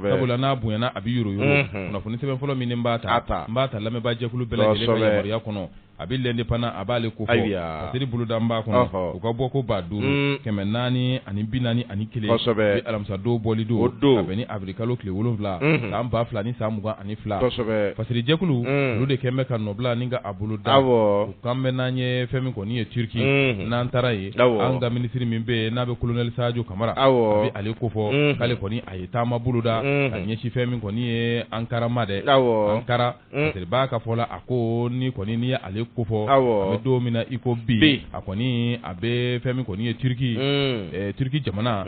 sabula n'a bonyana a bɛ yoro kunnafoni sɛbɛn fɔlɔ min ne b'a ta lamɛnbaajɛkulu bɛɛ lajɛlen ka yamaruya kɔnɔ a bɛ l'indépendant a b'ale ko fɔ fasiri boloda b'a kɔnɔ u ka bɔ ko ba duuru kɛmɛ naani ani bi naani ani kelen alamisadon bɔli don ka bɛn ni awirili kalo tile wolonwula san ba fila ni san mugan ani fila fasiri jɛkulu olu de kɛlen bɛ ka nɔbila ni ka a bolo da u kan bɛ n'an ye fɛn min kɔni ye turki n'an taara ye an ka minisiri min bɛ n'a bɛ kolonɛli sajo kamara a bɛ ale ko fɔ k'ale kɔni a ye taama boloda ka ɲɛsin fɛn min kɔni ye ankara ma dɛ ankara fasiri b'a ka fɔ la a ko ni kɔni ni ye ale ko fɔ an bɛ don min na i ko bi a kɔni a bɛ fɛn min kɔni ye turki turki jamana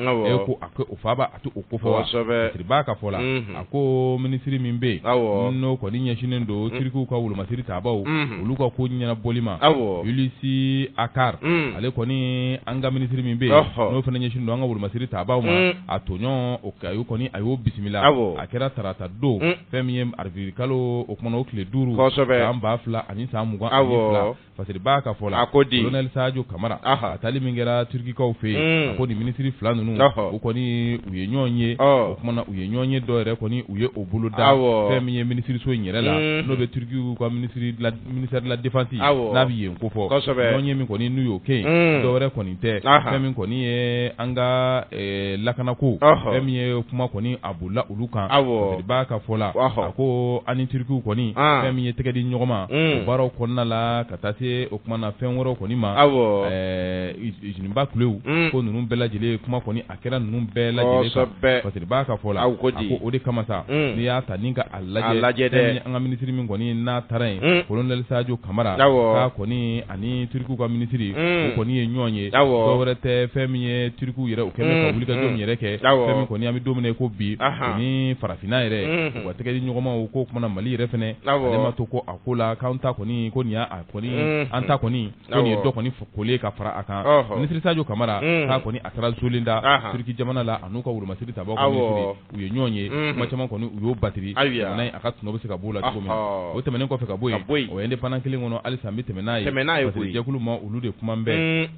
ko a o faaba a to o ko fɔ fasiri b'a ka fɔ la a ko minisiri min bɛ yen n'o kɔni ɲɛsinnen don turkiw ka wolomasiri tabaaw olu ka ko ɲɛnabɔli ma hulusi akar ale kɔni an ka minisiri min bɛ yen n'o fana ɲɛsinnen don an ka wolomasiri tabaaw ma a tɔɲɔgɔn o a y'o kɔni a y'o bisimila a kɛra tarata don fɛn min ye awirili kalo o kumana o tile duuru san ba fila ani san mugan ani fila fasiri b'a ka fɔ la a ko di kolonɛli sajo kamara a taali min kɛra turkikaw fɛ yen ko nin minisiri fila ninnu u kɔni u ye ɲɔgɔn ye o kumana u ye ɲɔgɔn ye dɔ yɛrɛ kɔni u ye o bolo da fɛn min ye minisiriso in yɛrɛ la n'o bɛ turkiw ka ministère de la ministère de la défense awɔ n'a bɛ yen ko fɔ kosɛbɛ ɲɔgɔn ye min kɔni n'u y'o kɛ yen un dɔ wɛrɛ kɔni tɛ fɛn min kɔni ye an ka ɛɛ lakanako ɔhɔ fɛn min ye kuma kɔni a bolila olu kan awɔ Fasiri b'a ka fɔ la ɔhɔ a ko an ni Turkiw kɔni an fɛn min ye tɛgɛ di ɲɔgɔn ma un o baaraw kɔnɔna la ka taa se o tuma na fɛn wɛrɛw kɔni ma awɔ ɛɛ usine ba kulew un ko ninnu bɛɛ lajɛlen kuma kɔni a kɛra ninnu bɛɛ lajɛlen kan kosɛbɛ Fasiri b'a ka fɔ la a ko di a ko o de kama sa un n'i y'a ta ni ka a lajɛ a lajɛ dɛ fɛn min an ka ministre min kɔni n'a taara yen un colonel Sajo Kamara awɔ k'a kɔni ani Turkiw ka ministre un o kɔni ye ɲɔgɔn ye awɔ dɔ wɛrɛ tɛ fɛn min ye Turkiw yɛrɛ u kɛlen bɛ ka wulikajɔ min yɛrɛ kɛ awɔ fɛn min kɔni an bɛ don min na i ko bi anhan o ni farafinna yɛrɛ unhun u ka tɛgɛdi ɲɔgɔnmaw k'o tumana Mali yɛrɛ fɛnɛ awɔ ale ma to ko a ko la k'anw ta kɔni ko nin y'a a kɔni un un an ta kɔni Awɔ. ye dɔ kɔni fɔ koli ye ka fara a kan Ɔhɔ. minisiri Sajo Kamara Unhun. k'a kɔni a taara Zolinda Ahan. Turiki jamana la a n'u ka wolomasiri tabaaw ka minisiri Awɔ. u ye ɲɔgɔn ye Unhun. kuma caman kɔni u y'o batiri Ayiwa. jamana in a ka tɔnɔ bɛ se ka b'o la cogo min na Ɔhɔ. o tɛmɛnen kɔfɛ ka bɔ yen Ka bɔ yen. o indépendant kelen kɔnɔ halisa an bɛ tɛmɛ n'a ye Tɛmɛ n'a ye Fasiri koyi. jɛkulu ma olu de kumanen bɛ Uun.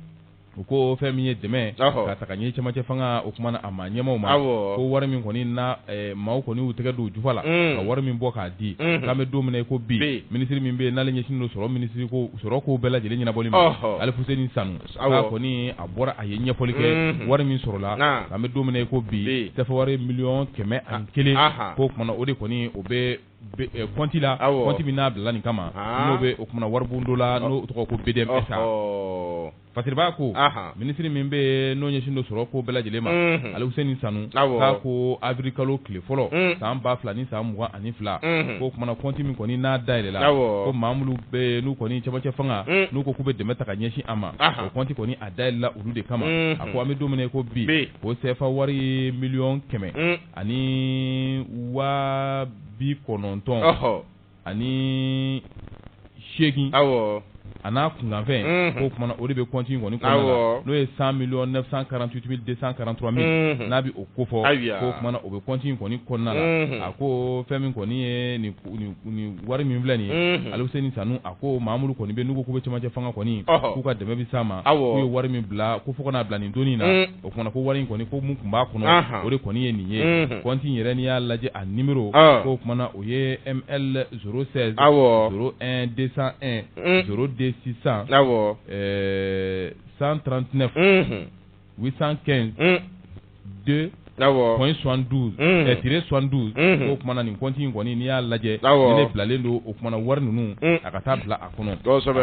u ko fɛn min ye dɛmɛ Ɔhɔ. ka taa ka ɲɛ cɛmancɛ fanga o kumana a maa ɲɛmaaw ma Awɔ. ko wari min kɔni na ɛɛ, maaw kɔni y'u tɛgɛ don u jufa la Uun. ka wari min bɔ k'a di Unhun. k'an bɛ don min na i ko bi Bi. minisiri min bɛ yen n'ale ɲɛsinnen don sɔrɔ minisiriko sɔrɔko bɛɛ lajɛlen ɲɛnabɔli ma, ɔhɔ, Alifuseni Sanu, awɔ, k'a kɔni a bɔra a ye ɲɛfɔli kɛ, unhun, wari min sɔrɔla, naamu, an bɛ don min na i ko bi, bi, sɛfɛwari miliyɔn kɛmɛ ani kelen, anhan, k'o tuma na o de kɔni o bɛ kɔnti la, awɔ, kɔnti min n'a bila la nin kama, haa, n'o bɛ o tuma na waribon dɔ la n'o tɔgɔ ye ko BDM SA, ɔhɔ Fasiri b'a ko minisiri min bɛ n'o ɲɛsin don sɔrɔ ko bɛɛ lajɛlen ma Aluseni Sanu k'a ko awirili kalo tile fɔlɔ san ba fila ni san mugan ani fila k'o kumana kɔnti min kɔni n'a dayɛlɛla ko maa minnu bɛ n'u kɔni cɛmancɛ fanga n'u ko k'u bɛ dɛmɛ ta ka ɲɛsin a ma o kɔnti kɔni a dayɛlɛla olu de kama a ko an bɛ don min na ko bi o sefa wari miliyɔn kɛmɛ ani wa bi kɔnɔntɔn ani seegin a n'a kunkanfɛn k'o kumana o de bɛ kɔnti kɔni n'o ye cent millions quatre-vingt-dix-huit deux cent quarante-trois mille n'a bɛ o ko fɔ k'o kumana o bɛ kɔnti in kɔni kɔnɔna la a ko fɛn min kɔni ye nin wari min filɛ nin ye Aluseni Sanu a ko maa minnu kɔni bɛ n'u ko k'u bɛ cɛmancɛ fanga kɔni k'u ka dɛmɛ bɛ s'a ma k'u ye wari min bila ko fo ka n'a bila nin don in na o fana ko wari in kɔni ko mun tun b'a kɔnɔ o de kɔni ye nin ye kɔnti yɛrɛ ni y'a lajɛ a ni o tumaumana o ye e sɛsɛ desan de sisan san trantinɛ ne u san kɛ don kɔn sɔn duuru tile sɔn duuru o tumaumana nin kɔnti in kɔni n'i y'a lajɛ bilalen don o tumaumana wari ninnu a ka taa bila kɔnɔ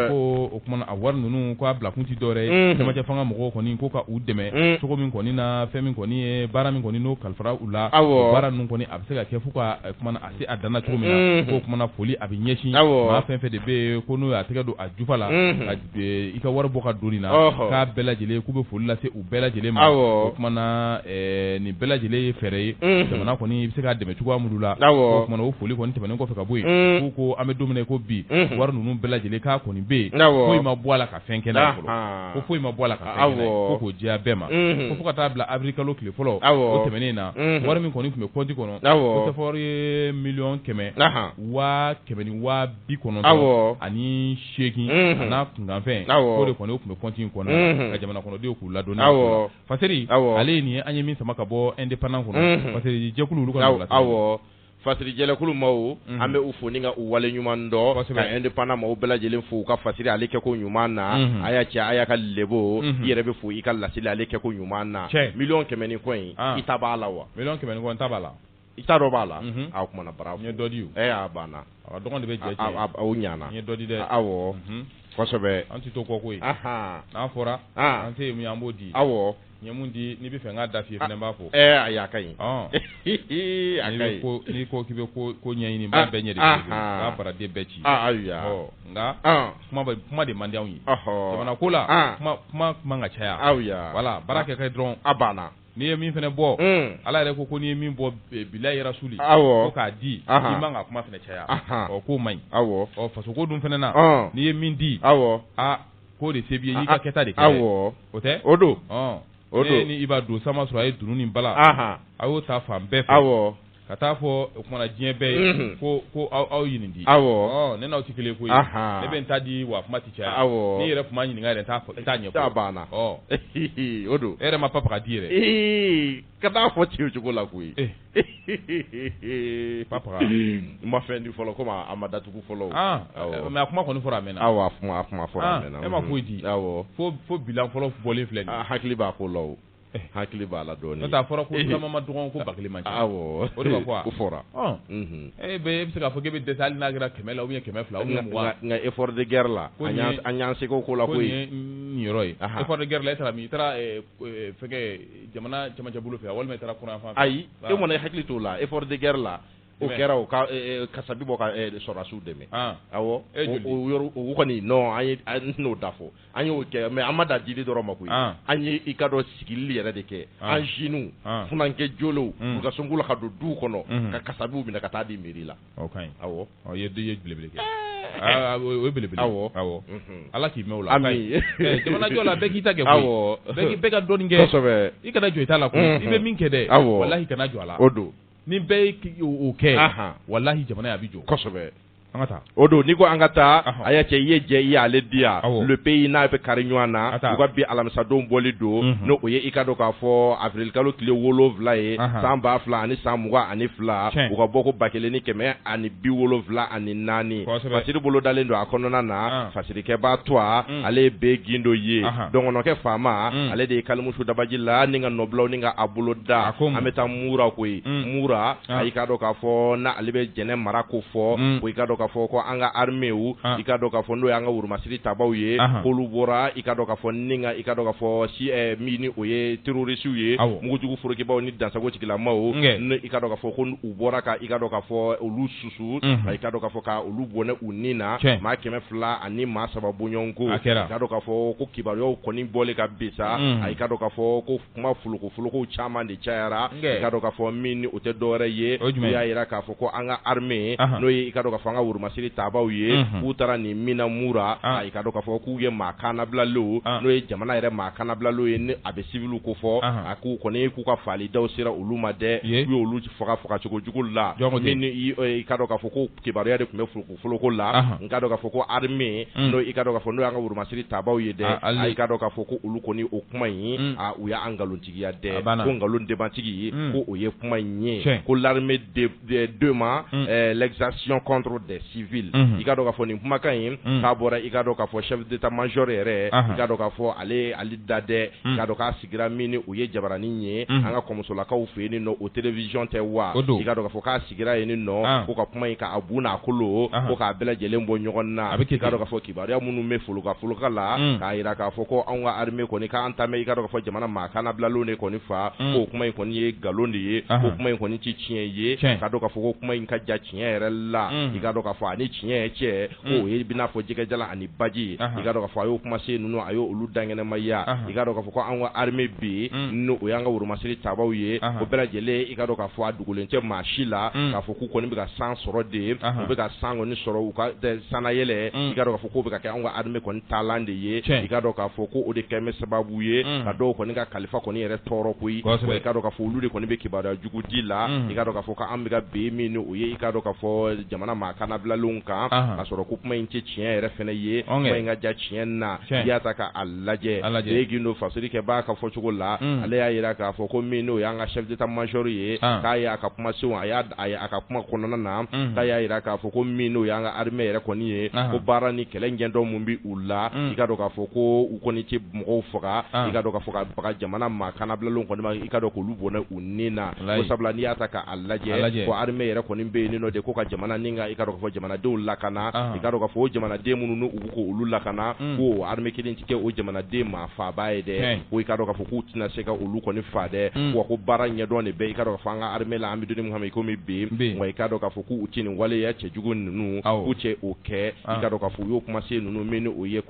ko o kumana a wari ninnu k'a bila kun tɛ dɔwɛrɛ ye cɛmancɛ fanga mɔgɔw kɔni ko ka u dɛmɛ cogo min kɔni na fɛn min kɔni ye baara min kɔni n'o kalifara u la o baara ninnu kɔni a bɛ se ka kɛ fo ka kumana a se a dan na cogo min na k'o kumana foli a bɛ ɲɛsin maa fɛn fɛn de bɛ yen ko n'o y'a tɛgɛ don a jufa la i ka wari bɔ ka don nin na k'a bɛɛ lajɛlen k'u bɛ foli lase u bɛɛ lajɛlen ma k'o kumana nin bɛɛ lajɛlen ye fɛɛrɛ ye jamana kɔni bɛ se ka dɛmɛ cogoya minnu la o kumana o foli kɔni tɛmɛnen kɔfɛ ka bɔ yen k'u ko an bɛ don min na ko bi wari ninnu bɛɛ lajɛlen k'a kɔni bɛ yen foyi ma bɔ a la ka fɛn kɛ ko foyi ma bɔ a la ka fɔ k'o jɛya bɛɛ ma ko fo ka taa bila awirili kalo tile fɔlɔ o tɛmɛnen in na wari min kɔni tun bɛ kɔnti kɔnɔ ko sefa wari ye miliyɔn kɛmɛ waa kɛmɛ ni waa bi kɔnɔntɔn ani seegin n'a kunkanfɛn k'o de kɔni o tun bɛ kɔnti in kɔnɔ ka jamana kɔnɔdenw k'u ladɔnniya fasiri ale ye nin ye an ye min sama ka bɔ Indépendant kɔnɔ fasiri jɛkulu olu ka awɔ fasiri jɛkulu maaw an bɛ u fo ni ka u wale ɲuman dɔn ka Indépendant maaw bɛɛ lajɛlen fo u ka fasiri ale kɛ ko ɲuman na a y'a cɛ a y'a ka Lebo i yɛrɛ bɛ fo i ka laseli ale kɛ ko ɲuman na miliyɔn kɛmɛ ni kɔ in i ta b'a la wa miliyɔn kɛmɛ ni kɔ n ta b'a la i ta dɔ b'a la a kumana bara n ye dɔ di a banna dɔgɔnin de bɛ jɛ ɲana n ye dɔ di dɛ awɔ kosɛbɛ an tɛ to kɔ koyi n'a fɔra an se min an b'o di awɔ n ye mun di n'i b'a fɛ n k'a da f'i ye fana n b'a fɔ a y'a ka ɲi n'i ko k'i bɛ ko ɲɛɲini bɛɛ ɲɛ ka baaraden bɛɛ ci ayiwa nka kuma de man di anw ye jamana ko la kuma man ka caya ayiwa voilà baara kɛ dɔrɔn a banna n'i ye min fana bɔ ala yɛrɛ ko ko n'i ye min bɔ bilahi rasuli ko k'a di i man ka kuma fana caya ɔ k'o man ɲi ɔ faso ko dun fana na n'i ye min di aw aa k'o de se b'i ye i ka kɛta de kɛ o tɛ o don o don i b'a don sama sɔrɔ a ye dunun ni bala a y'o ta fan bɛɛ fɛ ka taa fɔ o kuma na diɲɛ bɛɛ ye ko ko aw aw ye nin di awɔ ne n'aw tɛ kelen koyi ne bɛ n ta di wa kuma tɛ caya awɔ n'i yɛrɛ tun ma ɲininka yɛrɛ n t'a fɔ e t'a ɲɛ a banna o don e yɛrɛ ma papa ta di yɛrɛ ee ka t'a fɔ ten o cogo la koyi papa ma fɛn di fɔlɔ comme a ma datugu fɔlɔ mais a kuma kɔni fɔra a mɛnna awɔ a kuma fɔra a mɛnna e ma foyi di awɔ fo bilan fɔlɔ bɔlen filɛ nin hakili b'a ko la Eh, hakili b'a la dɔɔnin n'o tɛ a fɔra ko tama man dɔgɔn ko ba kelen man ca awɔ o de ma fɔ a o fɔra ɔ mhm. e bɛ e bɛ se k'a fɔ k'e bɛ dɛsɛ hali n'a kɛra kɛmɛ la ou bien kɛmɛ fila ou bien mugan nka effort de guerre la an y'an seko k'o la koyi ko nin mm, ye niyɔrɔ ye effort de guerre la e taara min i taara eh, eh, fɛnkɛ jamana cɛmancɛ bolo fɛ walima i taara kɔrɔn fan fɛ ayi ah. e kɔni hakili t'o la effort de guerre la o kɛra o ka kasabi bɔ ka sɔrɔdasiw dɛmɛ ah. awɔ o yɔrɔ o kɔni non an ye an n'o da fɔ an y'o kɛ mais an ma dan dili dɔrɔn ma koyi an ye i ka dɔn sigili yɛrɛ de kɛ an jeunes funankɛ jɔlenw u ka sɔn ko la ka don du kɔnɔ ka kasabiw minɛ ka taa di mairie la o ka ɲi awɔ e ye belebele kɛ o ye belebele awɔ ala k'i mɛɛn o la jamanajɔ la bɛɛ k'i ta kɛ awɔ bɛɛ ka dɔɔnin kɛ kosɛbɛ i kana jɔn i ta la koyi i bɛ min kɛ dɛ awɔ walahi kana jɔn a la o don ni bɛɛ y'o kɛ walahi jamana a bɛ jɔ an ka taa o don n'i ko an ka taa ɔhɔ a y'a cɛ i ye jɛ i y'ale di yan awɔ le pays n'a bɛ kari ɲɔgɔn na a taa u ka bi alamisadon bɔli don unhun n'o ye i ka dɔn k'a fɔ avril kalo tile 7 ye anhan san 2000 ani san 22 tiɲɛ u ka bɔ ko 1174 kosɛbɛ fasiri bolo dalen don a kɔnɔna na an fasirikɛbaa tua un ale ye be gindo ye anhan dɔngɔnɔkɛ faama un ale de ye kalimusu dabaji la ni n ka nɔbilaw ni n ka a bolo da a ko mun an bɛ taa mura koyi un mura i ka dɔn k'a fɔ n' ale bɛ jɛnɛ mara ko fɔ i ka dɔn k'a fɔ ko an ka arméew i ka dɔn k'a fɔ n'o y'an ka woromasiri tabaw ye k'olu bɔra i ka dɔn k'a fɔ ni i ka dɔn k'a fɔ si min ni o ye terorisiw ye mugujugu forokibaw ni dansagotigilamaw n i ka dɔn k'a fɔ ko u bɔra ka i ka dɔn k'a fɔ olu susu i ka dɔn k'a fɔ k' olu bɔnɛ u ni na maa kɛmɛ fila ani maa saba bɔɲɔgɔnko i ka dɔn k'a fɔ ko kibaruyaw kɔni bɔlen ka bin sa a y'i ka dɔn k'a fɔ ko kuma folokofolokow caman de cayara i ka dɔn k'a fɔ min ni o tɛ dɔwɛrɛ ye u y'a jira k'a fɔ ko an ka armée n'o ye i ka dɔn k'a fɔ an ka woromasiri tabaw ye k'u taara nin min na mura i ka dɔn k'a fɔ k'u ye maa kannabilalenw n'o ye jamana yɛrɛ maa kannabilalenw ye ni a bɛ civil kofɔ a k'u kɔni k'u ka faalidaw sera olu ma dɛ k'u ye olu faga fagacogo jugu la min ni i ka dɔn k'a fɔ ko kibaruya de tun bɛ fo foloko la i ka dɔn k'a fɔ ko armée n'o i ka dɔn k'a fɔ n'o y'an ka woromasiri tabaw ye dɛ i ka dɔn k'a fɔ ko olu kɔni o kuma in u y'a nkalontigiya dɛ ko nkalon debatigi ko o ye kuma in ye ko l'armée dément l'exaction contre des civils i ka dɔn k'a fɔ nin kumakan in k'a bɔra i ka dɔn k'a fɔ chef d'état-major yɛrɛ i ka dɔn k'a fɔ ale ale da dɛ i ka dɔn k'a sigira min n'o ye jabaranin ye an ka kɔmusolakaw fɛ yen nɔ o télévision tɛ wa i ka dɔn k'a fɔ k' sigira yen nɔ ko ka kuma in k'a bu n'a kolo ko k'a bɛɛ lajɛlen bɔ ɲɔgɔn na i k'a dɔn k'a fɔ kibaruya minnu bɛ folokafoloka la k'a jira k'a fɔ ko anw ka armée kɔni k'an ta mɛn i k'a dɔn k'a fɔ jamana maa kanabilalenw de kɔni fa k'o kuma in kɔni ye nkalon de ye k'o kuma in kɔni tɛ tiɲɛ ye i k'a dɔn k'a fɔ ko kuma in ka jan tiɲɛ yɛrɛ la i k'a dɔn k'a fɔ a ni tiɲɛ cɛ b'i n'a fɔ jɛgɛjalan ani baji i ka dɔn k'a fɔ a y'o kumasen ninnu a y' olu dankɛnɛmaya i ka dɔn k'a fɔ ko an ka armée bi n'o y'an ka woromasiri tabaw ye o bɛɛ lajɛlen i ka dɔn k'a fɔ a dogolen tɛ maa si la k'a fɔ k'u kɔni bɛ ka san sɔrɔ de u bɛ ka san kɔni sɔrɔ u ka sannayɛlɛn i ka dɔn k'a fɔ k'o bɛ ka kɛ an ka armée kɔni taalan de ye i ka dɔn k'a fɔ ko o de kɛlen bɛ sababu ye ka dɔw kɔni ka kalifa kɔni yɛrɛ tɔɔrɔ koyi i ka dɔn k'a fɔ olu de kɔni bɛ kibaruya jugu di la i ka dɔn k'a fɔ ko an bɛ ka bin min n'o ye i ka dɔn k'a fɔ jamana maa kanabilalenw kan ka sɔrɔ ko kuma in tɛ tiɲɛ yɛrɛ fɛnɛ ye kuma in ka jan tiɲɛ na i y'a ta k'a lajɛ gindo fasiri kɛ b'a ka fɔ cogo la ale y'a jira k'a fɔ ko min n'o y'an ka chef d'état-major ye k'a y'a ka kumasenw a ka kuma kɔnɔna na k'a y'a jira k'a fɔ ko min n'o y'an ka armée yɛrɛ kɔni ye ko baara ni kɛlɛ ɲɛdɔn min bɛ u la i ka dɔn k'a fɔ ko u kɔni tɛ mɔgɔw faga i ka dɔn k'a fɔ ka baga jamana maa kanabilalenw kɔni ma i ka dɔn k'olu bɔnɛ u ni na ko sabula n'i y'a ta k'a lajɛ ko armée yɛrɛ kɔni bɛ yen nɔ de ko ka jamana ni ka i ka dɔn k'a fɔ jamanadenw lakana i ka dɔn k'a fɔ o jamanaden minnu n'u bɛ k'olu lakana ko armée kelen tɛ kɛ o jamanaden maa faabaa ye dɛ ko i ka dɔn k'a fɔ k'u tɛna se ka olu kɔni fa dɛ wa ko baara ɲɛdɔn de bɛ i ka dɔn k'a fɔ an ka armée la an bɛ don min i komi bi wa i ka dɔn k'a fɔ k'u tɛ nin waleya cɛjugu ninnu k'u tɛ o kɛ i ka dɔn k'a fɔ u y'o kumasen ninnu min n'o ye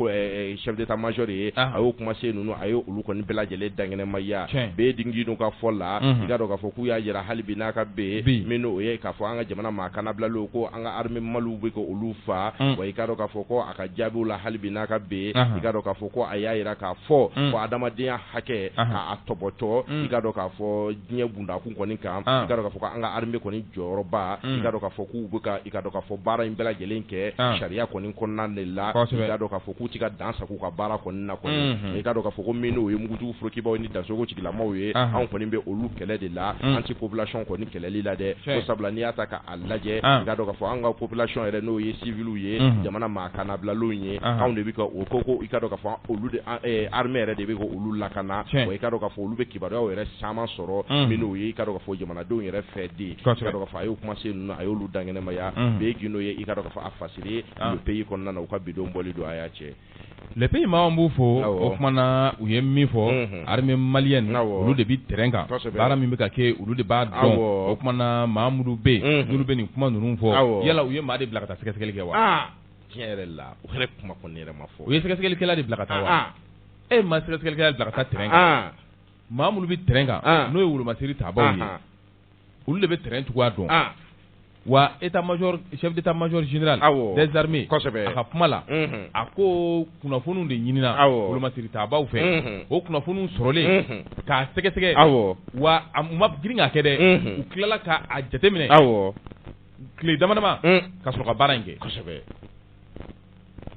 chef d'état-major ye a y'o kumasen ninnu a ye olu kɔni bɛɛ lajɛlen dankɛnɛmaya bɛɛ dun ka fɔ la i ka dɔn k'a fɔ k'u y'a jira hali bi n'a ka bɛn min n'o ye k'a fɔ an ka jamana maa kanabilalenw ko an ka armée maliw bɛ ka olu faa wa i ka dɔn k'a fɔ ko a ka jaabiw la hali bi n'a ka bɛn i ka dɔn k'a fɔ ko a y'a jira k'a fɔ ko hadamadenya hakɛ k'a tɔpɔtɔ i ka dɔn k'a fɔ diɲɛ bundakun kɔni kan i ka dɔn k'a fɔ ko an ka armée kɔni jɔyɔrɔba i ka dɔn k'a fɔ k'u bɛ ka i ka dɔn k'a fɔ baara in bɛɛ lajɛlen kɛ sariya kɔni kɔnɔna de la i ka dɔn k'a fɔ k'u tɛ ka dan sagon u ka baara kɔni na kɔni i ka dɔn k'a fɔ ko min n'o ye mugujugu forokibaw ni dansogo tigilamaw ye anw kɔni bɛ olu kɛlɛ de la an tɛ population kɔni kɛlɛli la dɛ ko sabula n'i y'a ta lajɛ i ka dɔn k'a fɔ an ka population yɛrɛ n'o ye civils ye jamana maa kanabilalaw ye anw de bɛ ka o ko ko i ka dɔn k'a fɔ olu de an ɛ armée yɛrɛ de bɛ k'olu lakana wa i ka dɔn k'a fɔ olu bɛ kibaruyaw yɛrɛ caman sɔrɔ min n'o ye i ka dɔn k'a fɔ jamanadenw yɛrɛ fɛ de i ka dɔn k'a fɔ a y'o kumasen ninnu a y'olu dankɛnɛmaya bɛɛ gindo ye i ka dɔn k'a fɔ a fasiri ye le pays kɔnɔna na u ka bidon bɔli don a y'a cɛ le pays maa b'u fɔ o tuma na u ye min fɔ armée malienne olu de bɛ terrain kan baara min bɛ ka kɛ olu de b'a dɔn o tuma na maa minnu bɛ yen n'olu bɛ nin kuma ninnu fɔ yala u ye maa de bila ka taa sɛgɛsɛgɛli kɛ wa tiɲɛ yɛrɛ la o kuma yɛrɛ ma fɔ u ye sɛgɛsɛgɛlikɛla de bila ka taa wa e ma sɛgɛsɛgɛlikɛla bila ka taa terrain kan maa minnu bɛ terrain kan n'o ye wolomasiri tabaaw ye olu de bɛ terrain cogoya dɔn wa état major chef d'état major général des armées a ka kuma la a ko kunnafoniw de ɲinina wolomasiri tabaaw fɛ o kunnafoniw sɔrɔlen k'a sɛgɛsɛgɛ awɔ wa a ma girin k'a kɛ dɛ u tilala k'a jateminɛ awɔ tile damadama ka sɔrɔ ka baara in kɛ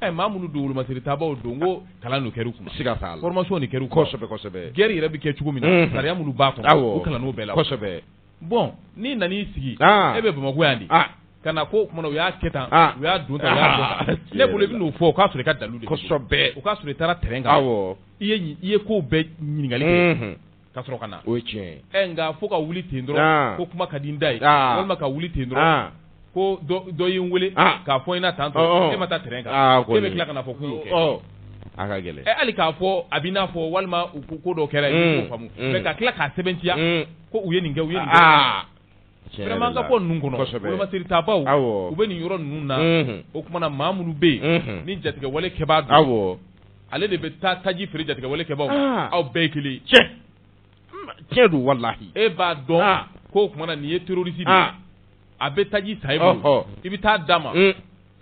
ɛ maa minnu don wolomasiri tabaaw don ko kalan de kɛr'u kunna, siga t'a la, formation de kɛr'u kunna, kosɛbɛ kosɛbɛ, guerre yɛrɛ bɛ kɛ cogo min na, unhun, sariya minnu b'a kɔnɔ, awɔ, u kalann'o bɛɛ la, kosɛbɛ, bon n'i nan'i sigi, an, e bɛ Bamakɔ yan de, an, ka na ko o tuma na u y'a kɛ tan, an, u y'a don tan, u y'a bɔ tan, ne bolo i bɛ n'o fɔ o k'a sɔrɔ i ka dalilu de bɛ yen, kosɛbɛ, o k'a sɔrɔ i taara terrain kan, awɔ, i ye kow bɛɛ ɲininkali kɛ, unhun ka sɔrɔ ka na o ye tiɲɛ ye nka fo ka wuli ten dɔrɔn ko kuma ka di n da ye walima ka wuli ten dɔrɔn ko dɔ ye n wele k'a fɔ i na tan don e ma taa terrain kan e bɛ tila ka na fɔ k'u y'o kɛ a ka gɛlɛn hali k'a fɔ a b'i n'a fɔ walima u ko ko dɔ kɛra yen k'o faamu mais ka tila k'a sɛbɛntiya ko u ye nin kɛ u ye vraiment an ka bɔ ninnu kɔnɔ wolomasiri tabaaw u bɛ nin yɔrɔ ninnu na o tuma na maa minnu bɛ yen ni jatigɛwale kɛbaa don ale de bɛ taa taji feere jatigɛwale kɛbaaw aw bɛɛ ye kelen tiɲɛ don walahi e b'a dɔn ko o tuma na nin ye terroriste ye a bɛ taji san i bolo i bɛ taa d'a ma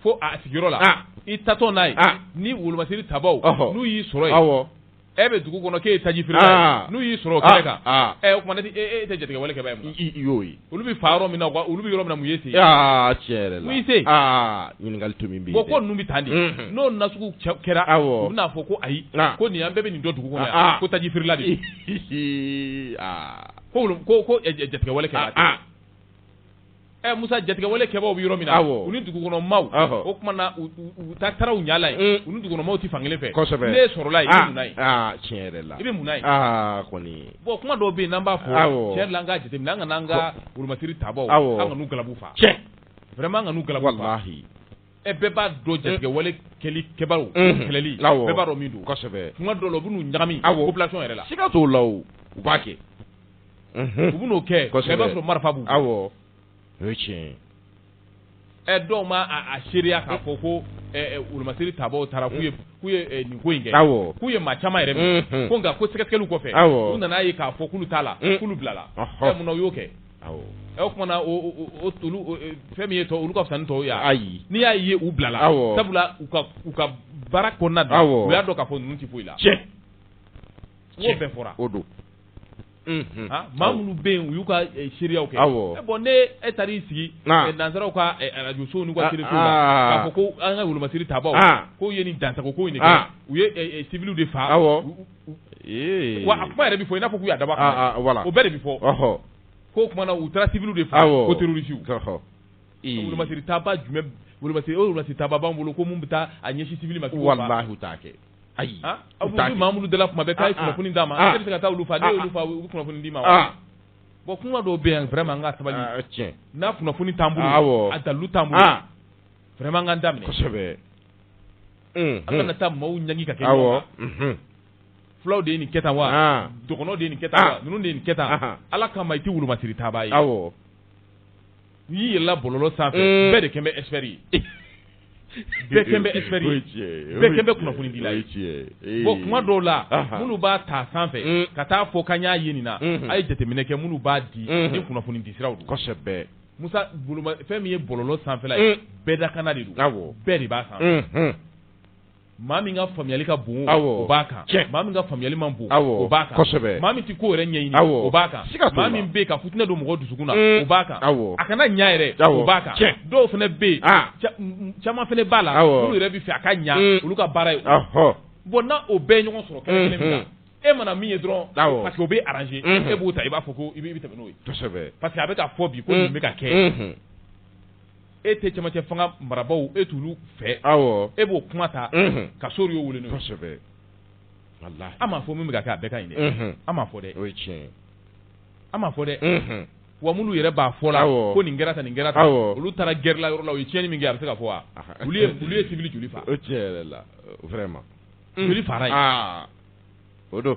fo a sigiyɔrɔ la i taatɔ n'a ye ni wolomasiri tabaaw n'u y'i sɔrɔ e bɛ dugu kɔnɔ k'e ye taji feerela n'u y'i sɔrɔ kɛnɛ kan o tuma na e tɛ jatigɛwale kɛbaa ye i y'o ye olu bɛ fa yɔrɔ min na olu bɛ yɔrɔ min na mun y'i se yen tiɲɛ la mun y'i se yen ɲininkali to min bɛ ko ninnu bɛ tan de n'o nasugu kɛra dɔw bɛn'a fɔ ko ayi ko nin an bɛɛ bɛ nin dɔn dugu kɔnɔ yan ko taji feerela de ko ko jatigɛwale kɛbaa Ɛ Musa jatigɛwale kɛbaaw bɛ yɔrɔ min na, awɔ, u ni dugukɔnɔmaaw, ɔhɔ, o tuma na u u taa taara u ɲɛ la yen, un, u ni dugukɔnɔmaaw tɛ fan kelen fɛ, kosɛbɛ, n'e sɔrɔla yen, aa, i bɛ mun na yen, aa tiɲɛ yɛrɛ la, i bɛ mun na yen, aa kɔni, bon kuma dɔw bɛ yen n'an b'a fɔ, awɔ, tiɲɛ yɛrɛ la an k'a jateminɛ an kana an ka wolomasiri tabaaw, awɔ, an kan'u galabu fa, tiɲɛ, vraiment an kan'u galabu fa, walahi, ɛ bɛɛ b'a dɔn jatigɛwale kɛli kɛbaaw, unhun, kɛlɛli, awɔ, bɛɛ b'a dɔn min don, kosɛbɛ, tuma dɔw la u bɛ n'u ɲagami, awɔ, population yɛrɛ la, siga t'o la o, u b'a kɛ u bɛ n'o kɛ i b'a sɔrɔ marifa b'u kun o ye tiɲɛ ɛ dɔw ma a seereya k'a fɔ ko wolomasiri tabaaw taara k'u ye nin ko in kɛ k'u ye maa caman yɛrɛ minɛ ko nka ko sɛgɛsɛgɛli kɔfɛ u nana ye k'a fɔ k'olu t'a la k'olu bilala munna u y'o kɛ o kuma na fɛn min ye olu ka fisa ni tɔw ye ayi n'i y'a ye u bilala sabula u ka baara kɔnɔna na u y'a dɔn k'a fɔ ninnu tɛ foyi la tiɲɛ bɛɛ fɔra o don maa minnu bɛ yen u y'u ka seereyaw kɛ bon ne e taara i sigi nansaraw ka arajosow n'u ka telesow la k'a fɔ ko an ka wolomasiri tabaaw k'u ye nin dansago ko in de kɛ u ye civil de faa wa a kuma yɛrɛ bɛ fɔ i n'a fɔ k'u y'a dabɔ a kama o bɛɛ de bɛ fɔ k'o kuma na u taara civil de faa ko tɛrɔrisiw wolomasiri tabaa jumɛn wolomasiri tabaa b'an bolo ko minnu bɛ taa a ɲɛsin civil ma walahi u t'a kɛ ayi aw bɛ Mamudu dala kuma bɛ k'a ye kunnafoni d'a ma k'e bɛ se ka taa olu faa n'e y'olu faa u kunnafoni d'i ma wa bon kuma dɔw bɛ yan vraiment an ka sabali tiɲɛ n'a kunnafoni t'an bolo a dalu t'an bolo vraiment an k'an da minɛ kosɛbɛ an kana taa maaw ɲangi ka kɛ ɲɔgɔn kan fulaw de ye nin kɛ tan wa dɔgɔnɔw de ye nin kɛ tan wa ninnu de ye nin kɛ tan Ala kama i tɛ wolomasiri tabaa ye awɔ N'i yɛlɛla bɔlɔlɔ sanfɛ uun bɛɛ de kɛn bɛ expert ye bɛɛ kɛn bɛ expert ye o ye tiɲɛ ye bɛɛ kɛn bɛ kunnafonidila ye o ye tiɲɛ ye ee bon kuma dɔw la anhan minnu b'a ta sanfɛ uun ka taa fɔ k'an y'a ye nin na unhun a' ye jateminɛ kɛ minnu b'a di unhun ni kunnafonidi siraw don kosɛbɛ Musa boloma fɛn min ye bɔlɔlɔ sanfɛla ye uun bɛɛ dakana de don awɔ bɛɛ de b'a sanfɛ unhun maa min ka faamuyali ka bon o b'a kan maa min ka faamuyali man bon o b'a kan kosɛbɛ maa min tɛ ko yɛrɛ ɲɛɲini o b'a kan maa min bɛ ka fitinɛ don mɔgɔ dusukun na mm. o b'a kan a kana ɲa yɛrɛ o b'a kan dɔw fana bɛ yen ah. caman fana b'a la olu yɛrɛ bɛ fɛ a ka ɲa mm. olu ka baara ye bon n'a o bɛɛ ɲɔgɔn sɔrɔ kɛlɛ kelen min na e mana min ye dɔrɔn parce que o bɛ arranger e b'o ta i b'a fɔ ko i bɛ tɛmɛ n'o ye parce que a bɛ ka fɔ bi ko nin bɛ ka kɛ e tɛ camancɛ fanga marabaaw e t'olu fɛ, awɔ, e b'o kuma ta, unhun, k'a sɔrɔ i y'o wele n'o ye, kosɛbɛ, walahi, an m'a fɔ min bɛ ka kɛ a bɛɛ ka ɲi dɛ, unhun, an m'a fɔ dɛ, o ye tiɲɛ ye, an m'a fɔ dɛ, unhun, wa minnu yɛrɛ b'a fɔ la, awɔ, ko nin kɛra tan nin kɛra tan, awɔ, olu taara guerre la yɔrɔ la u ye tiɲɛni min kɛ a bɛ se ka fɔ wa? olu ye olu ye civil joli faga? o tiɲɛ yɛrɛ la vraiment joli fagara yen? aa o don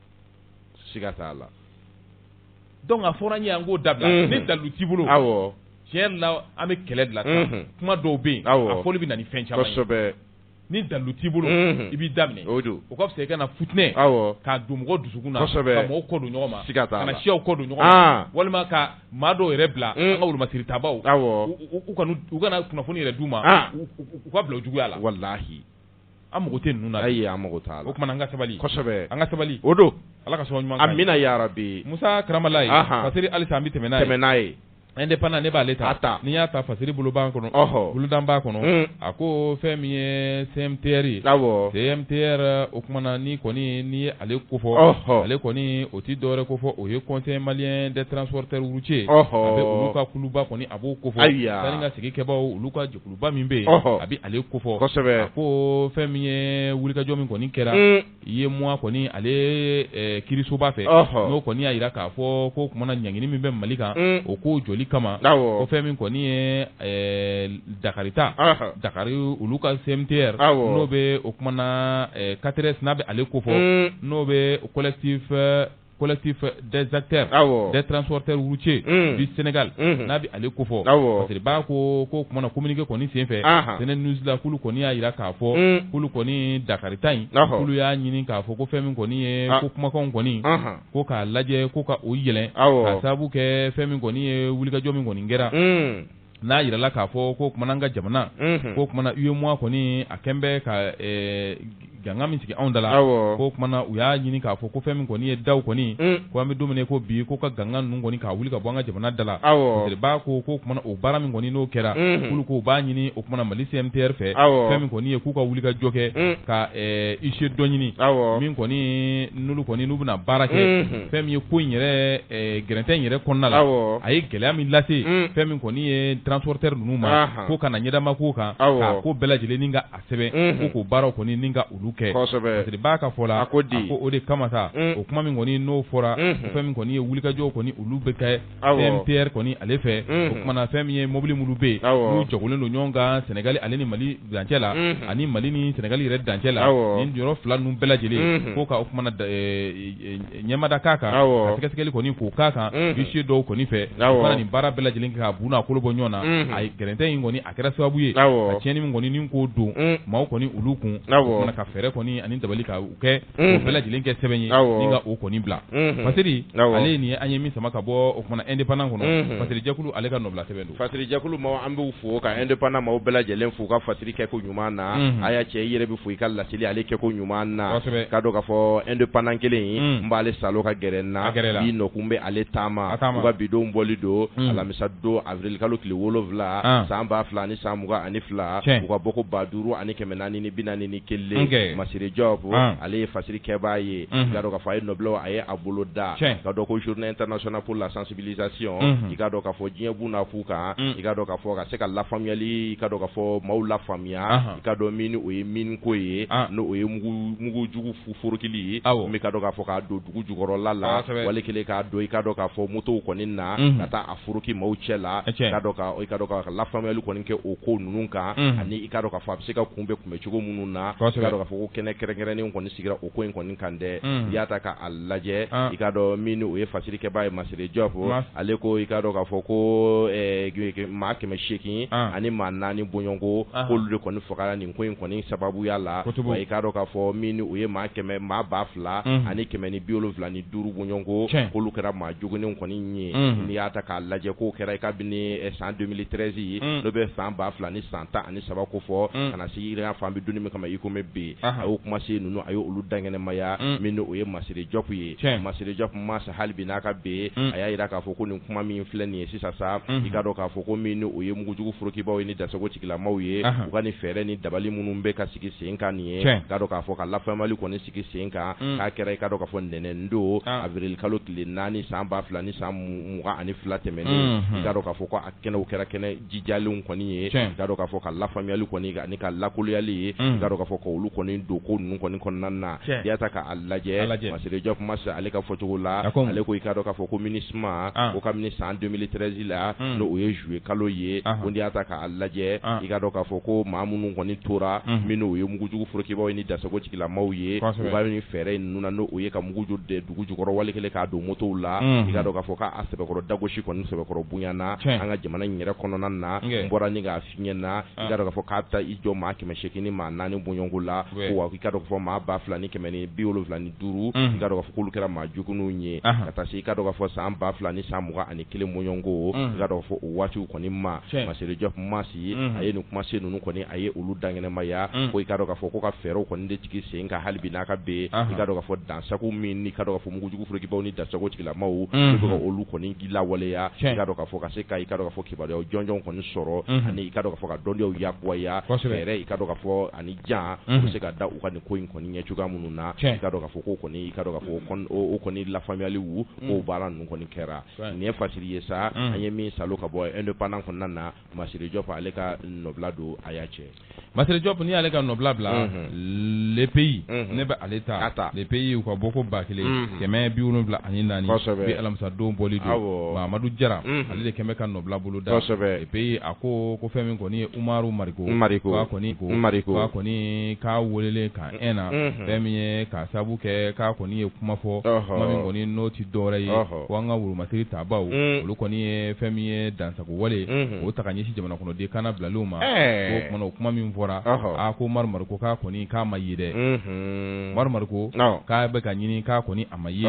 siga t'a la donc a fɔra an ye an k'o dabila unhun ni dalilu t'i bolo awɔ tiɲɛ yɛrɛ la an bɛ kɛlɛ de la sisan unhun kuma dɔw bɛ yen awɔ a fɔli bɛ na ni fɛn caman ye kosɛbɛ ni dalilu t'i bolo unhun i b'i da minɛ o don o ka fisa i kana futinɛ awɔ k'a don mɔgɔw dusukun na kosɛbɛ ka mɔgɔw kɔ don ɲɔgɔn ma siga t'a la ka na siyaw kɔ don ɲɔgɔn ma an walima ka maa dɔw yɛrɛ bila un an ka wolomasiritabaaw awɔ u u u kana u kana kunnafoni yɛrɛ d'u ma an u u u ka bila u juguya la walahi an mago tɛ ninnu na ayi an mago t'a la o kumana an ka sabali kosɛbɛ an ka sabali o don ala ka sɔn ɲuman kan amiina yarabi musa karamalaye fasiri halisa an bɛ tɛmɛ n'a ye indépendant ne b'ale ta n'i y'a ta fasiri bolo b'a kɔnɔ ɔɔ boloda b'a kɔnɔ a ko fɛn min ye CMTR ye CMTR o kumana ni kɔni ni ale ko fɔ ale kɔni o tɛ dɔwɛrɛ ko fɔ o ye conseil malien des transporteurs routiers a bɛ olu ka kuluba kɔni a b'o ko fɔ taa ka segin kɛbaw olu ka jɛ Kuluba min bɛ yen a bɛ ale ko fɔ kosɛbɛ ko fɛn min ye wulikajɔ min kɔni kɛra UEMOA kɔni ale kiirisoba fɛ n'o kɔni y'a jira k'a fɔ ko kumana ɲangini min bɛ mali kan o ko joli kama o fɛn min kɔni ye dakarita dakari olu ka CMTR n'o bɛ o kumana CATRS n'a bɛ ale ko fɔ n'o bɛ collectif collectif des acteurs des transporteurs routiers du Sénégal n'a bɛ ale ko fɔ masiriba ko ko kumana communiqué kɔni senfɛ Senenews la k'olu kɔni y'a jira k'a fɔ k'olu kɔni dakarita in k'olu y'a ɲini k'a fɔ ko fɛn min kɔni ye ko kumakanw kɔni ko k'a lajɛ ko ka o yɛlɛn k'a sabu kɛ fɛn min kɔni ye wulikajɔ min kɔni kɛra n'a jirala k'a fɔ ko kumana an ka jamana unhun k'o kumana UEMOA kɔnii a kɛn bɛ ka ɛɛ g ganga min sigi anw da la awɔɔ k'o kumana u y'a ɲini k'a fɔ ko fɛn min kɔni ye daw kɔni un ko an be don min na i ko bi k'o ka ganga ninnu kɔni k'a wuli ka bɔ an ka jamana da la awɔɔ masiriba ko k'o kumana o baara min kɔni n'o kɛra unhun k'olu ko u b'a ɲini o kumana Mali CMTR fɛ awɔɔ fɛn min kɔni ye k'u ka wulikajɔ kɛ un ka ɛɛ huissier dɔ ɲini awɔɔ min kɔnii n'olu kɔni n'u bɛna baara kɛ unhun fɛn min ye ko in yɛrɛɛ gɛrɛntɛ in yɛrɛ kɔnɔna la a ye gɛlɛya min lase fɛn min kɔni ye transporteur ninnu ma ko ka na ɲɛdama ko kan ka ko bɛɛ lajɛlen ka a sɛbɛn ko k'o baara kɔni ka olu kɛ masiriba ka fɔ la a ko o de kama sa o kuma min kɔni n'o fɔra fɛn min kɔni ye wulikajɔw kɔni olu bɛ kɛ CMTR kɔni ale fɛ o kumana fɛn min ye mobili minnu bɛ yen n'u jɔgɔlen don ɲɔgɔn kan sɛnɛgali ale ni mali dancɛ la ani mali ni sɛnɛgali yɛrɛ dancɛ la nin yɔrɔ fila ninnu bɛɛ lajɛlen ko ka o ɲɛmada k'a kan ka sɛgɛsɛgɛli kɔni k'o k'a kan huissier dɔw kɔni fɛ fana nin baara bɛɛ lajɛlen kɛ ka bu n'a kolo bɔ ɲɔgɔn na a gɛrɛntɛ in kɔni a kɛra sababu ye ka tiɲɛni min kɔni nin k'o don maaw kɔni olu kun o kumana ka fɛɛrɛ kɔni ani dabali ka u kɛ o bɛɛ lajɛlen kɛ sɛbɛn ye ni ka o kɔni bila fasiri ale nin ye an ye min sama ka bɔ o kumana indépendant kɔnɔ fasiri jɛkulu ale ka nɔbila sɛbɛn Fasiri jɛkulu maaw an b'u fo ka indépendant maaw bɛɛ lajɛlen fo ka fasiri kɛ ko ɲuman na a y'a cɛ i yɛrɛ bɛ fo i ka laseli ale kɛ ko ɲuman na k'a dɔn k'a fɔ indépendant kelen n b'ale saalo ka gɛrɛ n na bi nɔkun bɛ ale taama u ka bidon bɔli don alamisa don awirili kalo tile wolowula san ba fila ni san mugan ani fila u ka bɔko ba duuru ani kɛmɛ naani ni bi naani ni kelen kɛ masiri Diop ale ye fasiri kɛba ye k'a dɔn k'a fɔ a ye nɔbila a ye a bolo da k'a dɔn ko journée internationale pour la bilisation i k'a dɔn k'a fɔ diɲɛbu na fo kan i k'a dɔn k'a fɔ ka se ka lafaamuyali i k'a dɔn k'a fɔ maaw lafaamuya i ka dɔn min o ye min ko ye n' o ye mugujugu forokili ye u b'i k'a dɔn k'a fɔ k'a don dugu jukɔrɔla la wali kelen k'a don i ka dɔn k'a fɔ motow kɔni na ka taa a foroki maaw cɛ la i k'a dɔn ka lafaamuyali kɔni kɛ o ko ninnu kan ani i k'a dɔn k'a fɔ a bɛ se ka kunbɛn kunbɛn cogo minnu na i k'a dɔn k'a fɔ ko kɛnɛ kɛrɛnkɛrɛnnen kɔni sigira o ko in kɔni kan dɛ i y'a ta' lajɛ i k'a dɔn min o ye fasiri kɛbaa ye Masire Jɔp ale ko i k'a dɔn k'a fɔ ko maa kɛmɛ seegin ani maa naani bɔɲɔgɔnko k'olu de kɔni fagara nin ko in kɔni sababuya la i k'a dɔn k'a fɔ min o ye maa kɛmɛ maa ba fila ani kɛmɛ ni bi wolonwula ni duuru bɔɲɔgɔnko k'olu kɛra maa joginnenw kɔni ye n'i y'a ta k'a lajɛ k'o kɛra i kabini san deux mille treize ye n'o bɛ san ba fila ni san tan ani saba ko fɔ ka na se i k'a fɔ an bɛ don min kama i komi bi a y'o kuma se ninnu a y' olu dankɛnɛmaya min o ye Masire Jɔp ye Masire Jɔp masa hali bi n'a ka bɛn a y'a jira k'a fɔ ko nin kuma min filɛ nin ye sisan sa i k'a dɔn k'a fɔ ko min o ye mugujugu forokibaw ye ni dansago tigilamaw ye u ka nin fɛɛrɛ ni dabali minnu bɛ ka sigi sen kan nin ye k'a dɔn k'a fɔ ka lafaamuyali kɔni sigi sen kan k'a kɛra i ka dɔn k'a fɔ ntɛnɛn don awirili kalo tile naani san ba fila ni san mugan ani fila tɛmɛnen i k'a dɔn k'a fɔ kɛnɛw kɛra kɛnɛ jijalenw kɔni ye i k'a dɔn k'a fɔ ka lafaamuyali kɔni ani ka lakoloyali ye i k'a dɔn k'a fɔ ka olu kɔni don ko ninnu kɔni kɔnɔna na i y'a ta k'a lajɛ Masire Jɔp masa ale ka fɔcogo la ale ko i k'a dɔn k'a fɔ ko MINUSMA o kabini san deux mille treize la n' o ye zuye kalo ye ko n'i y'a ta k'a lajɛ i k'a dɔn k'a fɔ ko maa minnu kɔni tora min o ye mugujugu forokibaw ye ni dansago tigi lamaw ye u ka nin fɛɛrɛ ninnu na n' o ye ka mugujugu don dugu jukɔrɔ wali kelen k'a don motow la i k'a dɔn k'a fɔ k'a sɛbɛkɔrɔ dagosi kɔni sɛbɛkɔrɔ bonyana an ka jamana in yɛrɛ kɔnɔna na n bɔra nin k'a f'i ɲɛ na i k'a dɔn k'a fɔ k'a taa i jɔ maa kɛmɛ seegin ni maa naani bɔɲɔgɔnko la wa i k'a dɔn k'a fɔ maa ba fila ni kɛmɛ ni bi wolonwula ni duuru i k'a dɔn k'a fɔ k'olu kɛra maa joginnenw ye ka taa se i k'a dɔn k'a fɔ san ba fila ni san mugan ani kelen bɔɲɔgɔnko i k'a dɔn k'a fɔ o waati kɔni ma Masire Jɔp ma ye a ye nin kuma se ninnu kɔni a ye olu dankɛnɛmaya ko i k'a dɔn k'a fɔ ko ka fɛɛrɛw kɔni de sigi sen kan hali bi n'a ka bɛn i k'a dɔn k'a fɔ dansa min i k'a dɔn k'a fɔ mugujugu forokibaw ni dansago tigilamaw u bɛ ka olu kɔni lawaleya i k'a dɔn k'a fɔ ka se ka i k'a dɔn k'a fɔ kibaruyaw jɔnjɔn kɔni sɔrɔ ani i k'a dɔn k'a fɔ ka dɔnniyaw yakubaya i k'a dɔn k'a fɔ ani jan bɛ se ka da u ka nin ko in kɔni ɲɛ cogoya minnu na i k'a dɔn k'a fɔ ko kɔni i k'a dɔn k'a fɔ o kɔni lafaamuyali baara ninnu kɔni kɛra nin ye fasiri ye sa an ye min sa ka bɔ Indépendant kɔnɔna na masire jɔp ale ka nɔbila don a y'a cɛ masire jɔp n'i y'ale ka nɔbila bila le pays ne bɛ ale ta le pays u ka bɔko ba kelen kɛmɛ bi wolonwula ani naani bi alamisadon bɔli don mamadu jara ale de kɛlen bɛ ka nɔbila bolo da le pays a ko ko fɛn min kɔni ye umaru mariko k'a kɔni k'a weelelen ka na fɛn min ye ka sabu kɛ k'a kɔni ye kuma fɔ kuma min kɔni n'o tɛ dɔwɛrɛ ye ko an ka woromasiri tabaaw olu kɔni ye fɛn min ye dan wale o ta ɲɛsin jamana kɔnɔ di kana bila ma o o kuma min fɔra a ko ko k'a kɔni k'a ma ye dɛ ko k'a bɛ ka ɲini k'a kɔni a ma ye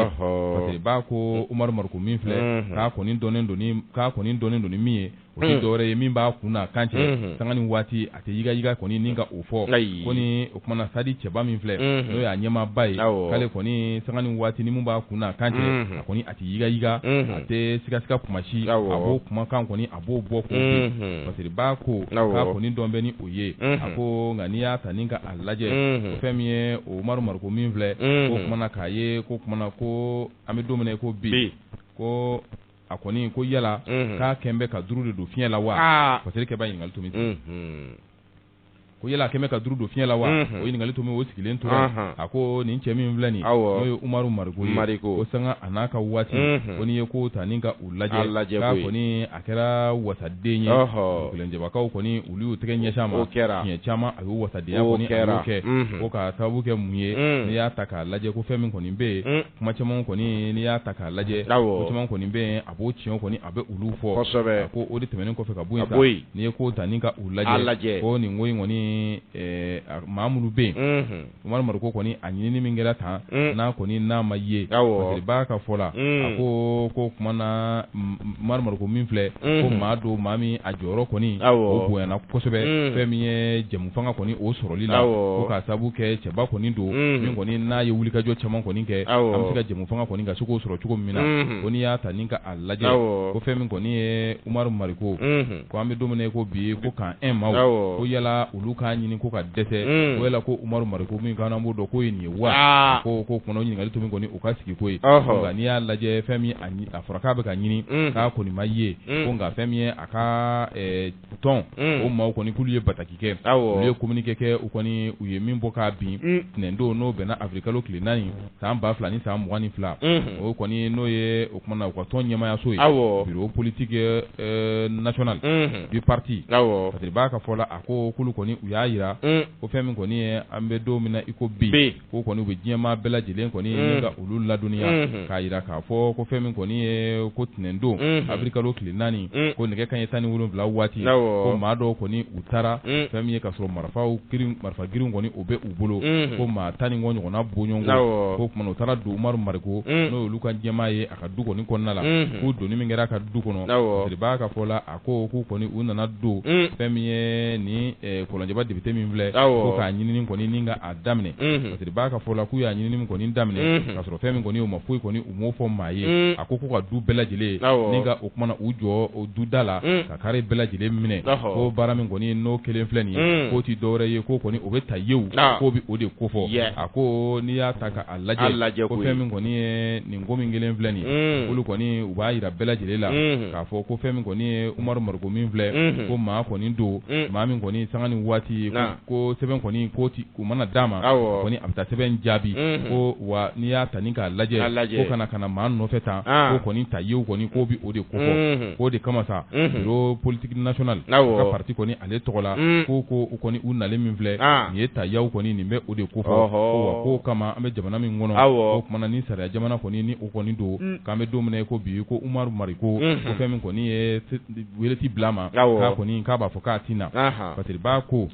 b'a ko ko min filɛ k'a kɔni dɔn k'a kɔni dɔn don min ye o dɔw ye min b'a kun kan cɛ san ni waati a tɛ yigayiga kɔni ni ka o fɔ ko ni o kuma na sadi cɛba min filɛ n'o y'a ɲɛmaaba ye k'ale kɔni sanga ni waati ni min b'a kun na kan cɛ a kɔni a tɛ yigayiga a tɛ sigasiga kuma si a b'o kumakan kɔni a b'o bɔ k'o bin parce que b'a ko k'a kɔni dɔn bɛ ni o ye a ko nka n'i y'a ta ni ka a lajɛ ko fɛn min ye umaru mariko min filɛ k'o kuma na k'a ye k'o kuma na ko an bɛ don min na iko bi ko a kɔni ko yala k'a kɛlen bɛ ka duuru de don fiɲɛ la wa parce que b'a ɲininkali tomi ko yala a kɛlen bɛ ka duuru don fiɲɛ la wa o ɲininkali tomi o sigilen tora a ko nin cɛ min filɛ nin n'o ye umaru mariko ko sanga a n'a ka waati ko n'i ye kow ta ni ka u lajɛ k'a kɔni a kɛra wasaden ye kelenjɛbagaw kɔni olu y'u tɛgɛ ɲɛsin a ma siɲɛ caman a y'u wasadenya kɛ ko ka sababu kɛ mun ye n'i y'a ta k'a lajɛ ko fɛn min kɔni bɛ yen kuma caman kɔni n'i y'a ta k'a lajɛ caman kɔni bɛ yen a b'o tiɲɛ kɔni a bɛ olu fɔ ko o de tɛmɛnen kɔfɛ ka bɔ yen n'i ye ko ta ni ka u lajɛ ko nin ko in kɔni maa minnu bɛ yen umaru mariko kɔni a ɲinini min kɛra tan n'a kɔni n'a ma ye parce que b'a ka fɔ la a ko k'o kuma na umaru mariko min filɛ ko maa don maa min a jɔyɔrɔ kɔni o bonyayana kosɛbɛ fɛn min ye jɛmu fanga kɔni o sɔrɔli la ka sabu kɛ cɛba kɔni don min kɔni n'a ye wulikajɔ caman kɔni kɛ an bɛ se ka jɛmufanga kɔni ka se k'o sɔrɔ cogo min na ko n'i y'a ta ni ka a lajɛ ko fɛn min kɔni ye umaru mariko ko an bɛ don min na iko bi ko k'an ma ko yala olu k'a ɲini ko ka dɛsɛ ko yala ko umaru mariko min kan b'o dɔn ko ye nin ye wa k'o kuma na ɲininkali tomi kɔni u ka sigi ko yen nka n'i y'a lajɛ fɛn min a fɔra k'a bɛ ka ɲini k'a kɔni ma ye ko nka fɛn min ye a ka tɔn o maaw kɔni k'olu ye bataki kɛ olu ye communiqué kɛ u kɔni u ye min bɔ k'a bin ntɛnɛndon n'o bɛnna awirilikalo tile naani san ba fila ni san mugan ni fila o kɔni n'o ye o kuma na u ka tɔn ɲɛmaayaso ye bureau politique national du parti parce que b'a ka fɔ la a ko k'olu kɔni u y'a yira ko fɛn min kɔni ye an bɛ don min na iko bi ko kɔni u bɛ diɲɛmaa bɛɛ lajɛlen kɔni ni ka olu ladɔnniya k'a yira k'a fɔ ko fɛn min kɔni ye ko ntɛnɛndon avril kalo tile naani ko nɛgɛ kanɲɛ tan ni wolonwula waati ko maa dɔw kɔni u taara fɛn min ye ka sɔrɔ marifa marifa girinw kɔni u bɛ u bolo ko maa tan ni kɔ ɲɔgɔnna bɔɲɔgɔnko o kuma na u taara don umaru mariko n'o ye olu ka ɲɛmaa ye a ka du kɔni kɔnɔna la k'u donni min kɛra a ka du kɔnɔ de b'a ka fɔ la ko k'u kɔni u nana don fɛn min ye ni kɔlɔnjɛba député min filɛ ko k'a ɲinini kɔni ni ka a daminɛ parce que b'a ka fɔ la k'u y'a ɲinini min kɔni daminɛ ka sɔrɔ fɛn min kɔni u ma foyi kɔni u m'o fɔ maa ye a ko k'u ka du bɛɛ lajɛlen ni ka o kuma na u jɔ o duda la ka kare bɛɛ lajɛlen minɛ ko baara min kɔni n'o kɛlen filɛ nin ye k'o tɛ dɔwɛrɛ ye ko kɔni o bɛ taa ye k'o bɛ o de kofɔ a ko n'i y'a ta a lajɛ lajɛ ko fɛn min kɔni ye nin ko min kɛlen filɛ nin olu kɔni u b'a yira bɛɛ lajɛlen la k'a fɔ ko fɛn min kɔni ye umaru mariko min filɛ ko maa kɔni don maa min kɔni sanga ni waati ko sɛbɛn kɔni ko u mana d'a ma kɔni a bɛ taa sɛbɛn jaabi ko wa n'i y'a ta ni k'a lajɛ ko ka na ka na maa nɔfɛ tan ko kɔni ta ye kɔni ko bɛ o de kofɔ ko o de kama sa bureau politique national ka parti kɔni ale tɔgɔ la ko ko u kɔni u nalen min filɛ nin ye ta yaw kɔni nin bɛ o de kofɔ k'o kama an bɛ jamana min kɔnɔ o kuma na ni sariya jamana kɔni ni o kɔni don k'an bɛ don min na ko bi ko umaru mariko ko fɛn min kɔni ye wele tɛ bila ma kɔni k'a b'a fɔ k'a tɛ na parce que b'a ko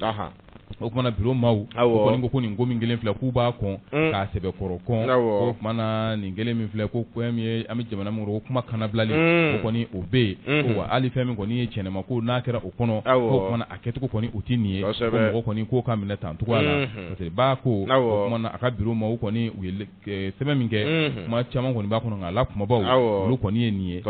o kuma na bureau maaw kɔni ko nin ko min kɛlen filɛ k'u b'a kɔn k'a sɛbɛkɔrɔ kɔn o kuma na nin kɛlen min filɛ ko ko an bɛ jamana min o kuma kanabilali o kɔni o bɛ yen wa hali fɛn min kɔni ye cɛn ma ko n'a kɛra kɔnɔ o kuma na a kɛcogo kɔni o tɛ nin ye ko mɔgɔ kɔni k'o ka minɛ tan cogoya la parce que b'a ko o kuma na a ka bureau maaw kɔni u ye sɛbɛn min kɛ kuma caman kɔni b'a kɔnɔ nka a la kunbabaw olu kɔni ye nin ye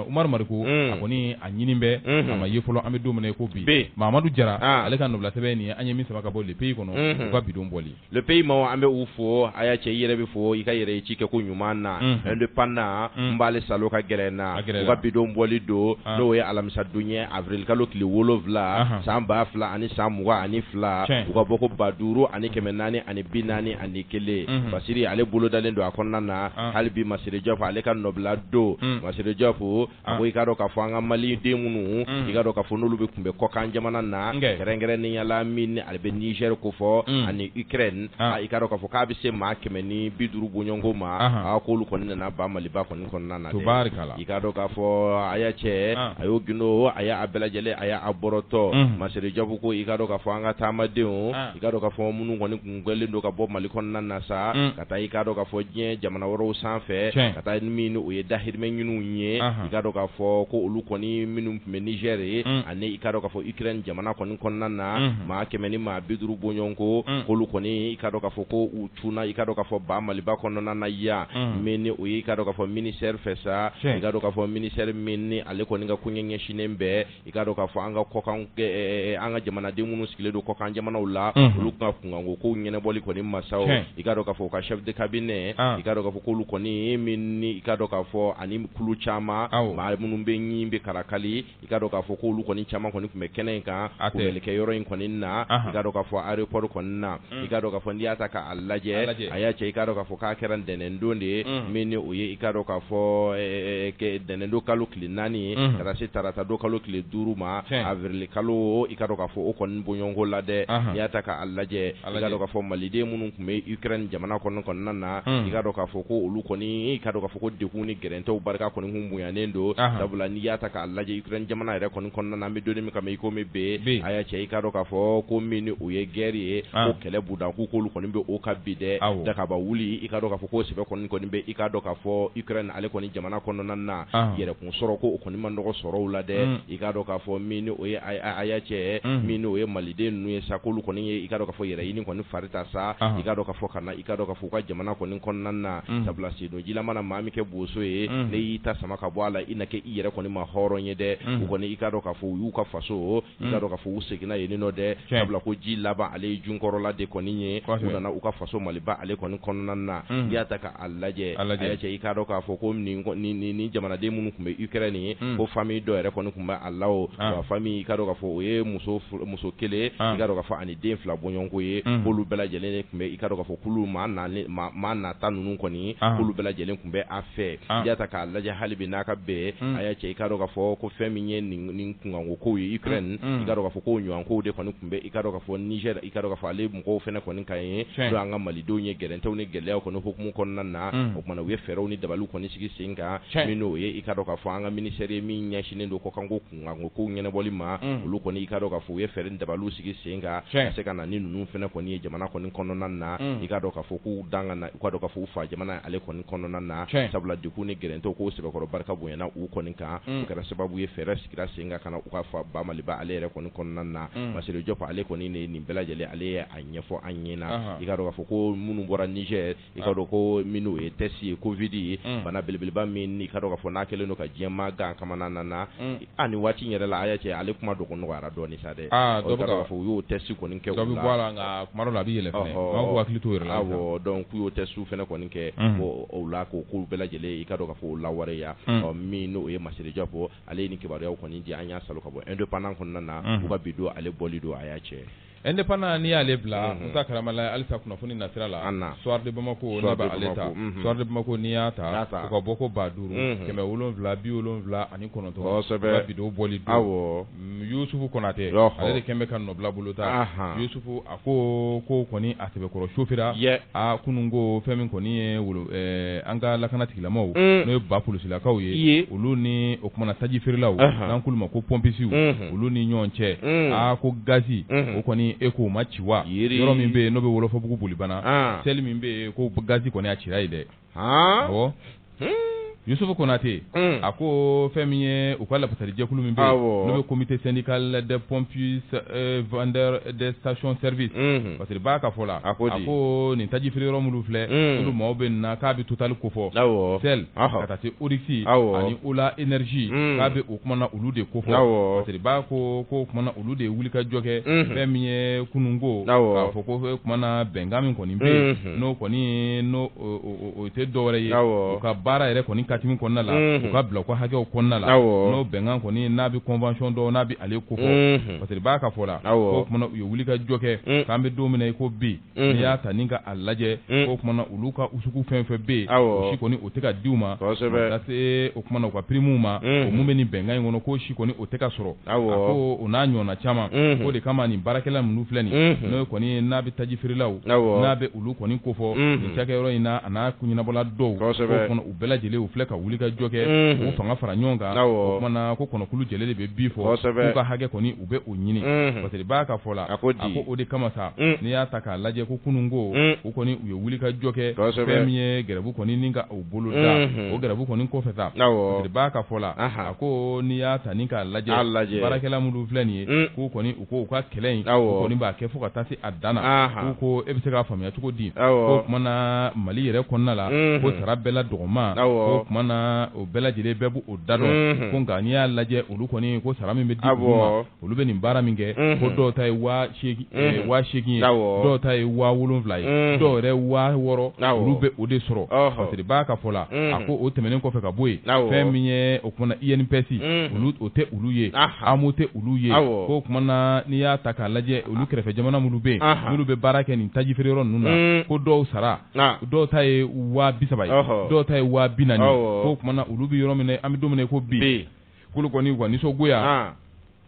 umaru mariko a kɔni a ɲini bɛ a ma ye fɔlɔ an bɛ don min na i ko bi mamadu jara ale ka nɔbila sɛbɛn nin ye an ye min sama ka bɔ le pays kɔnɔ u ka bidon bɔ le pays maaw an bɛ u fo aya cɛ i yɛrɛ bɛ fo i ka yɛrɛ ci kɛ ko ɲuman na indépendant n b'ale salo ka gɛrɛ n na u ka bidon bɔli don n'o ye alamisadon ye avril kalo tile wolonwula san ba fila ani san mugan ani fila u ka bɔko ba duuru ani kɛmɛ naani ani bi naani ani kelen basiri ale bolodalen don a kɔnɔna na hali bi masire diop ale ka nɔbila don masire diop a ko i ka dɔn k'a fɔ an ka Mali den minnu i ka dɔn k'a fɔ n'olu bɛ tun bɛ kɔkan jamana na kɛrɛnkɛrɛnnenya la min ale bɛ Niger kofɔ ani Ukraine i ka dɔn k'a fɔ k'a bɛ se maa kɛmɛ ni bi duuru bɔɲɔgɔnko ma k'olu kɔni nana ba Maliba kɔni kɔnɔna na dɛ i ka dɔn k'a fɔ Aya Cɛ Aya Gindo Aya a bɛɛ lajɛlen Aya a bɔrɔtɔ Masire Diop ko i ka dɔn k'a fɔ an ka taamadenw i ka dɔn k'a fɔ minnu kɔni gɛnlen don ka bɔ mali kɔnɔna na sa ka taa i k'a dɔn k'a fɔ diɲɛ jamana wɛrɛw sanfɛ ka taa min n'o ye dahirimɛ ɲiniw ye i k'a dɔn k'a fɔ ko olu kɔni minnu tun bɛ Niger ani i k'a dɔn k'a fɔ Ukraine jamana kɔni kɔnɔna na maa kɛmɛ ni maa biduuru bɔɲɔgɔnko ko olu kɔni i k'a dɔn k'a fɔ ko u cunna i k'a dɔn k'a fɔ ba maliba kɔnɔna na yan min n'o ye i k'a dɔn k'a fɔ ministère fɛ sa i k'a dɔn k'a fɔ ministère min ni ale kɔni ka koɲɛ ɲɛsinnen bɛ i k'a dɔn k'a fɔ an ka kɔkan an ka jamanaden minnu sigilen don kɔkan jamanaw la olu ka kunkanko kow ɲɛnɛbɔli kɔni ma sa i k'a dɔn k'a fɔ o ka chef de cabinet i k'a dɔn k'a fɔ k'olu kɔni min ni i k'a dɔn k'a fɔ ani kulu caman maa minnu bɛ ɲi bɛ kalakali i k'a dɔn k'a fɔ k'olu kɔni caman kɔni tun bɛ kɛnɛ in kan kunbɛlikɛ yɔrɔ in kɔni na i k'a dɔn k'a fɔ aéroport kɔni na i k'a dɔn k'a fɔ n'i y'a ta k'a lajɛ a y'a cɛ i k'a dɔn k'a fɔ k'a kɛra ntɛnɛndon de ye min n'o ye i k'a dɔn k'a fɔ ntɛnɛndon kalo tile naani ye ka taa se tarata don kalo tile duuru ma awirili kalo i k'a dɔn k'a fɔ o kɔni bɔɲɔgɔnko la dɛ n'i y'a ta k'a lajɛ i k'a dɔn k'a fɔ maliden minnu tun bɛ Ukraine jamana kɔni kɔnɔna na i k'a dɔn k'a fɔ ko olu kɔni i k'a dɔn k'a fɔ ko degun ni gɛrɛntɛw barika kɔni kun bonyalen don sabula n'i y'a ta k'a lajɛ Ukraine jamana yɛrɛ kɔni kɔnɔ na an bɛ don min kama i komi bi a y'a cɛ i k'a dɔn k'a fɔ ko min n'o ye guerre ye ko kɛlɛ budan k'u k'olu kɔni bɛ o ka bi dɛ dagaba wuli i k'a dɔn k'a fɔ ko sɛbɛ kɔni bɛ i k'a dɔn k'a fɔ Ukraine ale kɔni jamana kɔnɔna na yɛrɛkun sɔrɔ ko o kɔni man dɔgɔ sɔrɔw la dɛ i k'a dɔn k'a fɔ min n'o ye a y'a cɛ min n'o ye maliden ninnu ye sa k'olu kɔni ye i k'a dɔn k'a fɔ yɛrɛ ɲini kɔni fari ta sa i k'a dɔn k'a fɔ ka na i k'a dɔn k'a fɔ u ka jamana kɔni kɔnɔna na sabula si ji la mana maa min kɛ boso ye n'i y'i ta sama ka bɔ a la i na kɛ i yɛrɛ kɔni ma hɔrɔn ye dɛ u kɔni i k'a dɔn k'a fɔ u y'u ka faso i k'a dɔn k'a fɔ u seginna yen nɔ dɛ sabula ko ji laban ale ye junkɔrɔla de kɔni ye k'u nana u ka faso maliba ale kɔni kɔnɔna na n'i y'a ta k'a lajɛ a y'a cɛ i k'a dɔn k'a fɔ ko nin jamanaden minnu tun bɛ Ukraine yen ko famille dɔ yɛrɛ kɔni tun bɛ a la o wa famille i k'a dɔn k'a fɔ o ye muso muso kelen i k'a dɔn k'a fɔ den fila bɔɲɔgɔnko ye k'olu bɛɛ lajɛlen tun bɛ i k'a dɔn k'a fɔ k'olu maa nata ninnu kɔni k'olu bɛɛ lajɛlen tun bɛ a fɛ n'i y'a ta k'a lajɛ hali bi n'a ka bɛn a y'a cɛ i k'a dɔn k'a fɔ ko fɛn min ye nin kunkanko kow ye Ukraine i k'a dɔn k'a fɔ k'o ɲɔgɔnkow de kɔni tun bɛ i k'a dɔn k'a fɔ Niger i k'a dɔn k'a fɔ ale mɔgɔw fana kɔni kan yen n'o y'an ka Malidenw ye gɛrɛntɛw ni gɛlɛyaw kɔni hukumu kɔnɔna na o tuma na u ye fɛɛrɛw ni dabaliw kɔni sigi sen kan min n'o ye i k'a dɔn k'a fɔ an ka ministère ye min ɲɛsinnen don kɔkanko ko kow ɲɛnɛbɔli ma olu kɔni i k'a dɔn k'a fɔ u ye fɛɛrɛ ni dabaliw sigi sen kan ka se ka na ni ninnu fana kɔni ye jamana kɔni kɔnɔna na i k'a dɔn k'a fɔ k'u daga i k'a dɔn k'a fɔ u fa jamana ale kɔni kɔnɔna na sabula degun ni gɛrɛntɛw k'o sɛbɛkɔrɔ barika bonyana u kɔni kan o kɛra sababu ye fɛɛrɛ sigira sen kan ka na u ka fa ba maliba ale yɛrɛ kɔni kɔnɔna na Masiré Diop ale kɔni ne nin bɛɛ lajɛlen ale ye a ɲɛfɔ an ɲɛna i k'a dɔn k'a fɔ ko minnu bɔra Niger i ka dɔn ko minnu ye test ye covid ye bana belebeleba min i ka dɔn k'a fɔ n'a kɛlen don ka diɲɛmaa gan kamana na ani waati yɛrɛ la a y'a cɛ ale kuma donc nɔgɔyara dɔɔnin sa dɛ fɔ u y'o test kɔni kɛ la a bɛ yɛlɛ k'u hakili to u yɛrɛ la donc k'u y'o test fana kɔni kɛ o la ko ko bɛɛ lajɛlen i ka dɔn k'a fɔ o lawaleya min n'o ye masire diop ale ye nin kibaruya kɔni di an y'a sɔrɔ ka bɔ indépendant kɔnɔna na u ka bi don ale bɔli don a y'a cɛ Indépendant n'i y'ale bila musa karamala halisa kunnafoni nasira la soir de bamakɔ n b'ale ta soir de bamakɔ n'i y'a ta u ka bɔko ba duuru kɛmɛ wolonwula bi wolonwula ani kɔnɔntɔn ka bi don bɔli don yusufu konatɛ ale de kɛlen bɛ ka nɔbila bolo ta yusufu a ko ko kɔni a sɛbɛkɔrɔ sofera a kunun ko fɛn min kɔni ye an ka lakana tigilamaw n'o ye ba polisilakaw ye olu ni o kumana taji feerelaw n'an k'olu ma ko pɔnpisiw olu ni ɲɔgɔn cɛ a ko gazi o kɔni e k'o ma ci wa yɔrɔ min bɛ yen n'o bɛ wɔlɔfɔbugu bolibana shell min bɛ yen ko gazi kɔni a cira yen dɛ ɔ yusufu konatɛ a ko fɛn min ye u ka lafasalijɛkulu min bɛ yen n'o bɛ comité syndical des pompistes vendeurs des stations service parce que b'a ka fɔ la a ko nin tajifeere yɔrɔ minnu filɛ olu maaw bɛ nin na k'a bɛ total kofɔ shell ka taa se oryx ani ola énergie k'a bɛ o kumana olu de kofɔ parce que b'a ko ko kumana olu de ye wuli ka jɔ kɛ fɛn min ye kunun ko k'a fɔ ko kumana bɛnkan min kɔni bɛ n'o kɔni n' o tɛ dɔwɛrɛ ye u ka baara yɛrɛ kɔni katimi kɔnɔna la u ka bila u ka hakɛw kɔnɔna la n'o bɛnkan kɔni n'a bɛ convention dɔn n'a bɛ ale kofɔ parce que b'a ka fɔ la ko kumana u ye wuli ka jɔ kɛ k'an bɛ don min na i ko bi n'i y'a ta ni ka a lajɛ ko kumana olu ka usugu fɛn fɛn bɛ yen o si kɔni o tɛ ka di u ma ka se o kumana u ka primes ma o min bɛ nin bɛnkan in kɔnɔ k'o si kɔni o tɛ ka sɔrɔ a ko o n'a ɲɔgɔnna caman o de kama nin baarakɛla minnu filɛ nin ye n'o kɔni n'a bɛ tajifeerelaw n'a bɛ olu kɔni kofɔ nin cakɛyɔrɔ in na a n'a koɲɛnabɔla dɔw bɛɛ lajɛlen u filɛ ka wuli ka jɔ kɛ k'u fanga fara ɲɔgɔn kan o kumana ko kɔnɔkulu jɛlen de bɛ bii fɔ k'u ka hakɛ kɔni u bɛ o ɲini parce que b'a ka fɔ la a ko o de kama sa n'i y'a ta k'a lajɛ ko kunun ko u kɔni u ye wuli ka jɔ kɛ fɛn min ye gɛrɛbu kɔni nin ka o boloda o gɛrɛbu kɔni kɔfɛ sa parce que b'a ka fɔ la a ko n'i y'a ta ni k'a lajɛ baarakɛla minnu filɛ nin ye k'u kɔni u ko u ka kɛlɛ in kɔni b'a kɛ fo ka taa se a dan na ko e bɛ se k'a faamuya cogo di ko kumana mali yɛrɛ kɔnɔna la ko sara bɛɛ la dɔgɔman ko kumana o bɛɛ lajɛlen bɛɛ b'o da dɔn ko nka n'i y'a lajɛ olu kɔni ko sara min bɛ di olu ma olu bɛ nin baara min kɛ ko dɔw ta ye waa seegin ye dɔw ta ye waa wolonwula ye dɔw yɛrɛ waa wɔɔrɔ olu bɛ o de sɔrɔ parce que b'a ka fɔ la a ko o tɛmɛnen kɔfɛ ka bɔ yen fɛn min ye o kumana INPS olu o tɛ olu ye AMO tɛ olu ye ko kumana n'i y'a ta k'a lajɛ olu kɛrɛfɛ jamana minnu bɛ olu bɛ baara kɛ nin taji feere yɔrɔ ninnu na ko dɔw sara dɔw ta ye waa bisaba dɔw ta ye waa binaani ko kumana olu bɛ yɔrɔ min an bɛ don min ko bi k'olu kɔni u ka nisɔngoya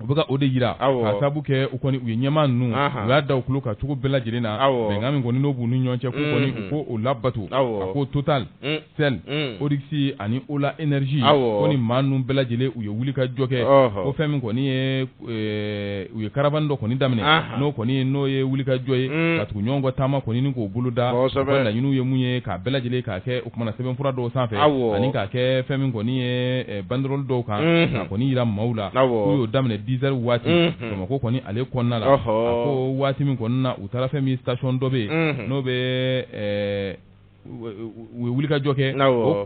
u bɛka o de jira ka sabu kɛ u kɔni u ye ɲɛmaa ninnu u y'a da u tulo kan cogo bɛɛ lajɛlen na bɛnkan min kɔni n'o b'u ni ɲɔgɔn cɛ k'u kɔni u k'o labato a ko Total Shell Oryx ani Ola Energy ko ni maa ninnu bɛɛ lajɛlen u ye wuli ka jɔ kɛ ko fɛn min kɔni ye u ye caravane dɔ kɔni daminɛ n'o kɔni n'o ye wuli ka jɔ ye ka tugu ɲɔgɔn kɔ taama kɔni ni k'o boloda laɲiniw ye mun ye k'a bɛɛ lajɛlen k'a kɛ o kumana sɛbɛn fura dɔw sanfɛ ani k'a kɛ fɛn min kɔni ye banderole dɔw kan k'a kɔni jira maaw la k'u y'o daminɛ dix heures waati bamakɔ kɔni ale kɔnɔna la ko waati min kɔnɔna na u taara fɛn min ye station dɔ bɛ yen n'o bɛ u ye wulikajɔ kɛ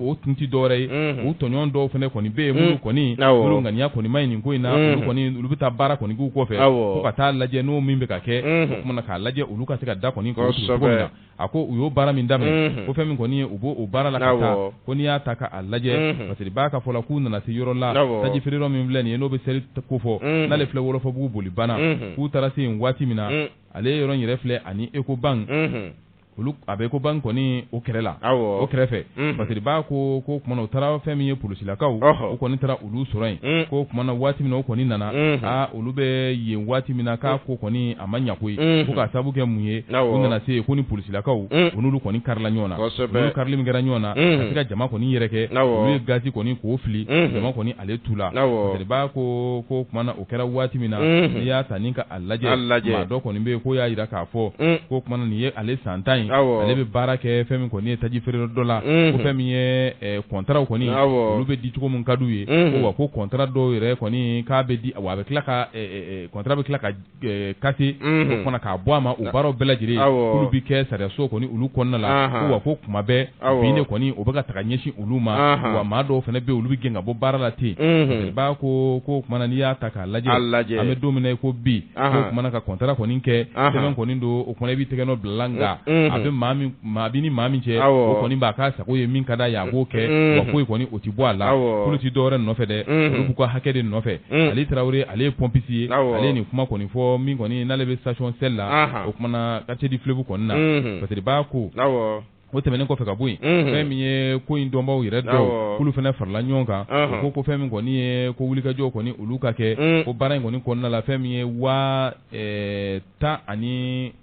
o tun tɛ dɔwɛrɛ ye u tɔɲɔgɔn dɔw fana kɔni bɛ yen minnu kɔni olu ŋaniya kɔni ma ɲi nin ko in na kɔni olu bɛ taa baara kɔni k'u kɔfɛ fo ka taa lajɛ n'o min bɛ ka kɛ o kumana k'a lajɛ olu ka se ka da kɔni kɔsɛbɛ a ko u y'o baara min daminɛ ko fɛn min kɔni ye u b'o baara la ka taa ko n'i y'a ta k'a lajɛ parce que i b'a ka fɔ la k'u nana se yɔrɔ la taji feere yɔrɔ min filɛ nin ye n'o bɛ Shell ko fɔ n'ale filɛ wɔlɔfɔbugu Bolibana k'u taara se yen waati min na ale yɔrɔ in yɛrɛ filɛ ani Ecobank olu a bɛ Ecobank kɔni o kɛrɛ la o kɛrɛfɛ parce que b'a ko ko kumana u taara fɛn min ye polisilakaw u kɔni taara olu sɔrɔ yen ko kumana waati min na o kɔni nana aa olu bɛ yen waati min na k'a ko kɔni a ma ɲa koyi ko ka sabu kɛ mun ye u nana se yen ko ni polisilakaw u n'olu kɔni karila ɲɔgɔn na olu karili min kɛra ɲɔgɔn na ka se ka jama kɔni yɛrɛkɛ olu ye gazi kɔni k'o fili jama kɔni ale tu la b'a ko ko kumana o kɛra waati min na n'i y'a ta k'a lajɛ maa dɔ kɔni bɛ yen k'o y'a jira k'a fɔ ko kumana nin ye ale san tan in ale bɛ baara kɛ fɛn min kɔni ye taji feere yɔrɔ dɔ la ko fɛn min ye kɔntaraw kɔni olu bɛ di cogo min ka d'u ye ko wa ko kɔntara dɔw yɛrɛ kɔni k'a bɛ di wa a bɛ tila ka kɔntara bɛ tila ka kase o fana k'a bɔ a ma o baaraw bɛɛ lajɛlen olu bɛ kɛ sariyaso kɔni olu kɔnɔna la ko wa ko kuma bɛɛ ne kɔni u bɛka taga ɲɛsin olu ma wa maa dɔw fana bɛ olu bɛ gɛn ka bɔ baara la ten parce que b'a ko ko kumana n'i y'a ta k'a lajɛ an bɛ don min na ko bi ko kumana ka kɔntara kɔni kɛ sɛbɛn kɔni don o kumana i b'i tɛgɛnɔ bila la a b'i ni maa min cɛ o kɔni b'a ka sago ye min ka d'a ye a b'o kɛ foyi kɔni o tɛ bɔ a la olu tɛ dɔwɛrɛ nɔfɛ dɛ olu b'u ka hakɛ de nɔfɛ ale tarawele ale ye pompiste ye ale nin kuma kɔni fɔ min kɔni n'ale bɛ station Shell la o kumana quartier du Fleuve kɔnɔna na parce que b'a ko O tɛmɛnen kɔfɛ ka bɔ yen fɛn min ye ko in dɔnbaw yɛrɛ dɔw k'olu fana farala ɲɔgɔn kan ko ko fɛn min kɔni ye ko wulikajɔ kɔni olu ka kɛ ko baara in kɔni kɔnɔna la fɛn min ye waa tan ani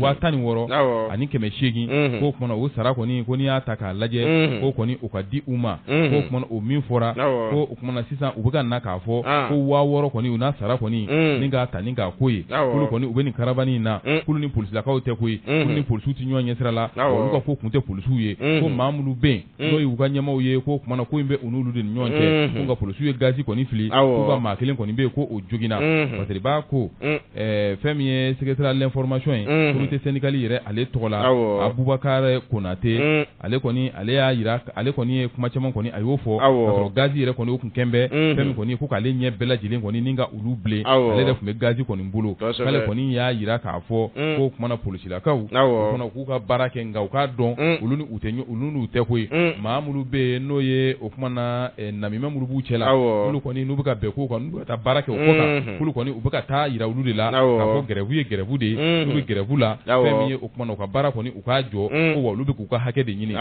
waa tan ni wɔɔrɔ ani kɛmɛ seegin ko kumana o sara kɔni ko n'i y'a ta k'a lajɛ k'o kɔni o ka di u ma ko kumana o min fɔra na sisan u bɛ ka na k'a fɔ ko waa wɔɔrɔ kɔni u n'a sara kɔni ni k'a ta ni k'a ko ye k'olu kɔni u bɛ nin caravane in na k'olu ni polisilakaw tɛ koyi k'olu ni polisiw tɛ ɲɔgɔn ɲɛsira la olu ka ko tun tɛ polisiw ye ko maa minnu bɛ yen n'o ye u ka ɲɛmaaw ye ko kumana ko in bɛ u n'olu de ni ɲɔgɔn cɛ ko nka polisiw ye gaz kɔni fili k'u ka maa kelen kɔni bɛ yen ko o joginna parce que b'a ko fɛn min ye secrétaire à l'information ye comité syndical yɛrɛ ale tɔgɔ la abubakari konatɛ ale kɔni ale y'a jira ale kɔni ye kuma caman kɔni a y'o fɔ gaz yɛrɛ kɔni o tun kɛlen bɛ fɛn min kɔni ko k'ale ɲɛ bɛɛ lajɛlen kɔni ni ka olu bilen ale yɛrɛ tun bɛ gaz kɔni bolo k'ale kɔni y'a jira k'a fɔ k'o kumana polisilakaw kɔni k'u ka baara kɛ nka u k'a dɔn olu ni olu n'u tɛ koyi maa minnu bɛ yen n'o ye o kumana namima minnu b'u cɛ la olu kɔni n'u bɛ ka bɛn ko kan n'u bɛ ka taa baara kɛ o kɔ olu kɔni u bɛ ka taa jira olu de la ko gɛrɛvu ye gɛrɛvu de ye n'u bɛ gɛrɛvu la fɛn min ye o kumana u ka baara kɔni u k'a jɔ ko wa olu bɛ k'u ka hakɛ de ɲini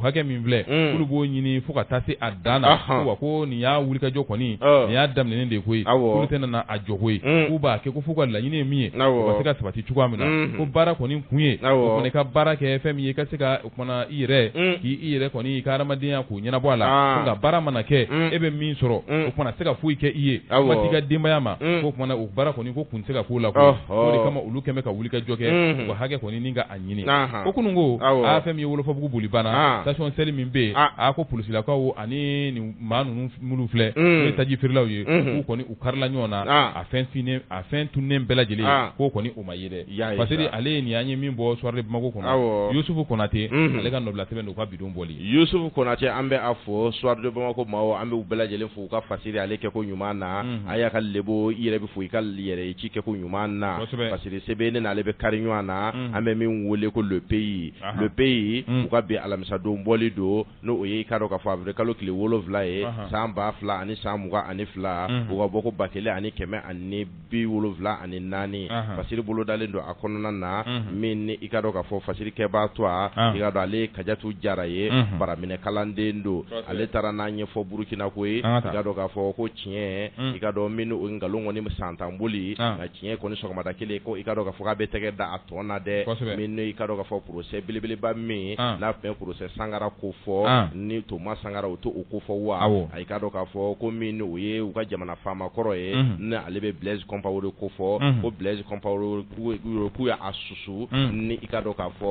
hakɛ min filɛ olu b'o ɲini fo ka taa se a dan na wa ko nin y'a wulikajɔ kɔni nin y'a daminɛ de ye koyi olu tɛna na a jɔ koyi k'u b'a kɛ ko f'u ka laɲini ye min ye ka se ka sabati cogoya min na ko baara kɔni kun ye kɔni ka baara kɛ fɛn min ye i ka se ka o kumana i yɛrɛ k'i i yɛrɛ kɔni i ka hadamadenya kow ɲɛnabɔ a la nka baara mana kɛ e bɛ min sɔrɔ o kumana se ka foyi kɛ i ye kuma t'i ka denbaya ma o kumana o baara kɔni ko kun tɛ se ka k'o la koyi o de kama olu kɛlen bɛ ka wulikajɔ kɛ u ka hakɛ kɔni ni ka a ɲini ko kunun ko a fɛn min ye wolofobugu bolibana station shell min bɛ yen a ko polisilakaw ani nin maa ninnu minnu filɛ ye taji feerelaw ye k'u kɔni u karila ɲɔgɔn na a fɛn o fɛn tunnen bɛɛ lajɛlen k'o kɔni o ma ye dɛ parce que ale ye nin an ye min bɔ soir de bamakɔ kɔnɔ yusufu konatɛ ale ka nɔbila sɛbɛn don ka bi don bɔli yusufu konatɛ an bɛ a fɔ soir de bamakɔ maaw an b'u bɛɛ lajɛlen fo u ka fasiri ale kɛ ko ɲuman na a y'a ka lebo i yɛrɛ bɛ fo i ka yɛrɛ ci kɛ ko ɲuman na fasiri sɛbɛn ne n'ale bɛ kari ɲɔgɔn na an bɛ min weele ko le pays le pays u ka bi alamisadon bɔli don n'o ye i ka dɔn k'a fɔ awirilikalo tile wolowula ye san ba fila ani san mugan ani fila u ka bɔko ba kelen ani kɛmɛ ani bi wolowula ani naani fasiri bolodalen don a kɔnɔna na min ni i ka dɔn k'a fɔ fasirikɛbaa tɔgɔ i ka dɔn ale ye kajatu jara ye baaraminɛkalanden don ale taara n'a ɲɛfɔ burukina ko ye i ka dɔn k'a fɔ ko tiɲɛ i ka dɔn min nkalon kɔni san tan boli nka tiɲɛ kɔni sɔgɔmada kelen ko i ka dɔn k'a fɔ k'a bɛ tɛgɛ da a tɔn na dɛ min ni i ka dɔn k'a fɔ procès belebeleba min n'a tun bɛ procès sankara ko fɔ ni thomas sankara o to o ko fɔ wa i k'a dɔn k'a fɔ ko min ni o ye u ka jamana faama kɔrɔ ye ni ale bɛ blaise compaoré ko fɔ ko blaise compaoré k'u y'a susu ni i ka dɔn k'a fɔ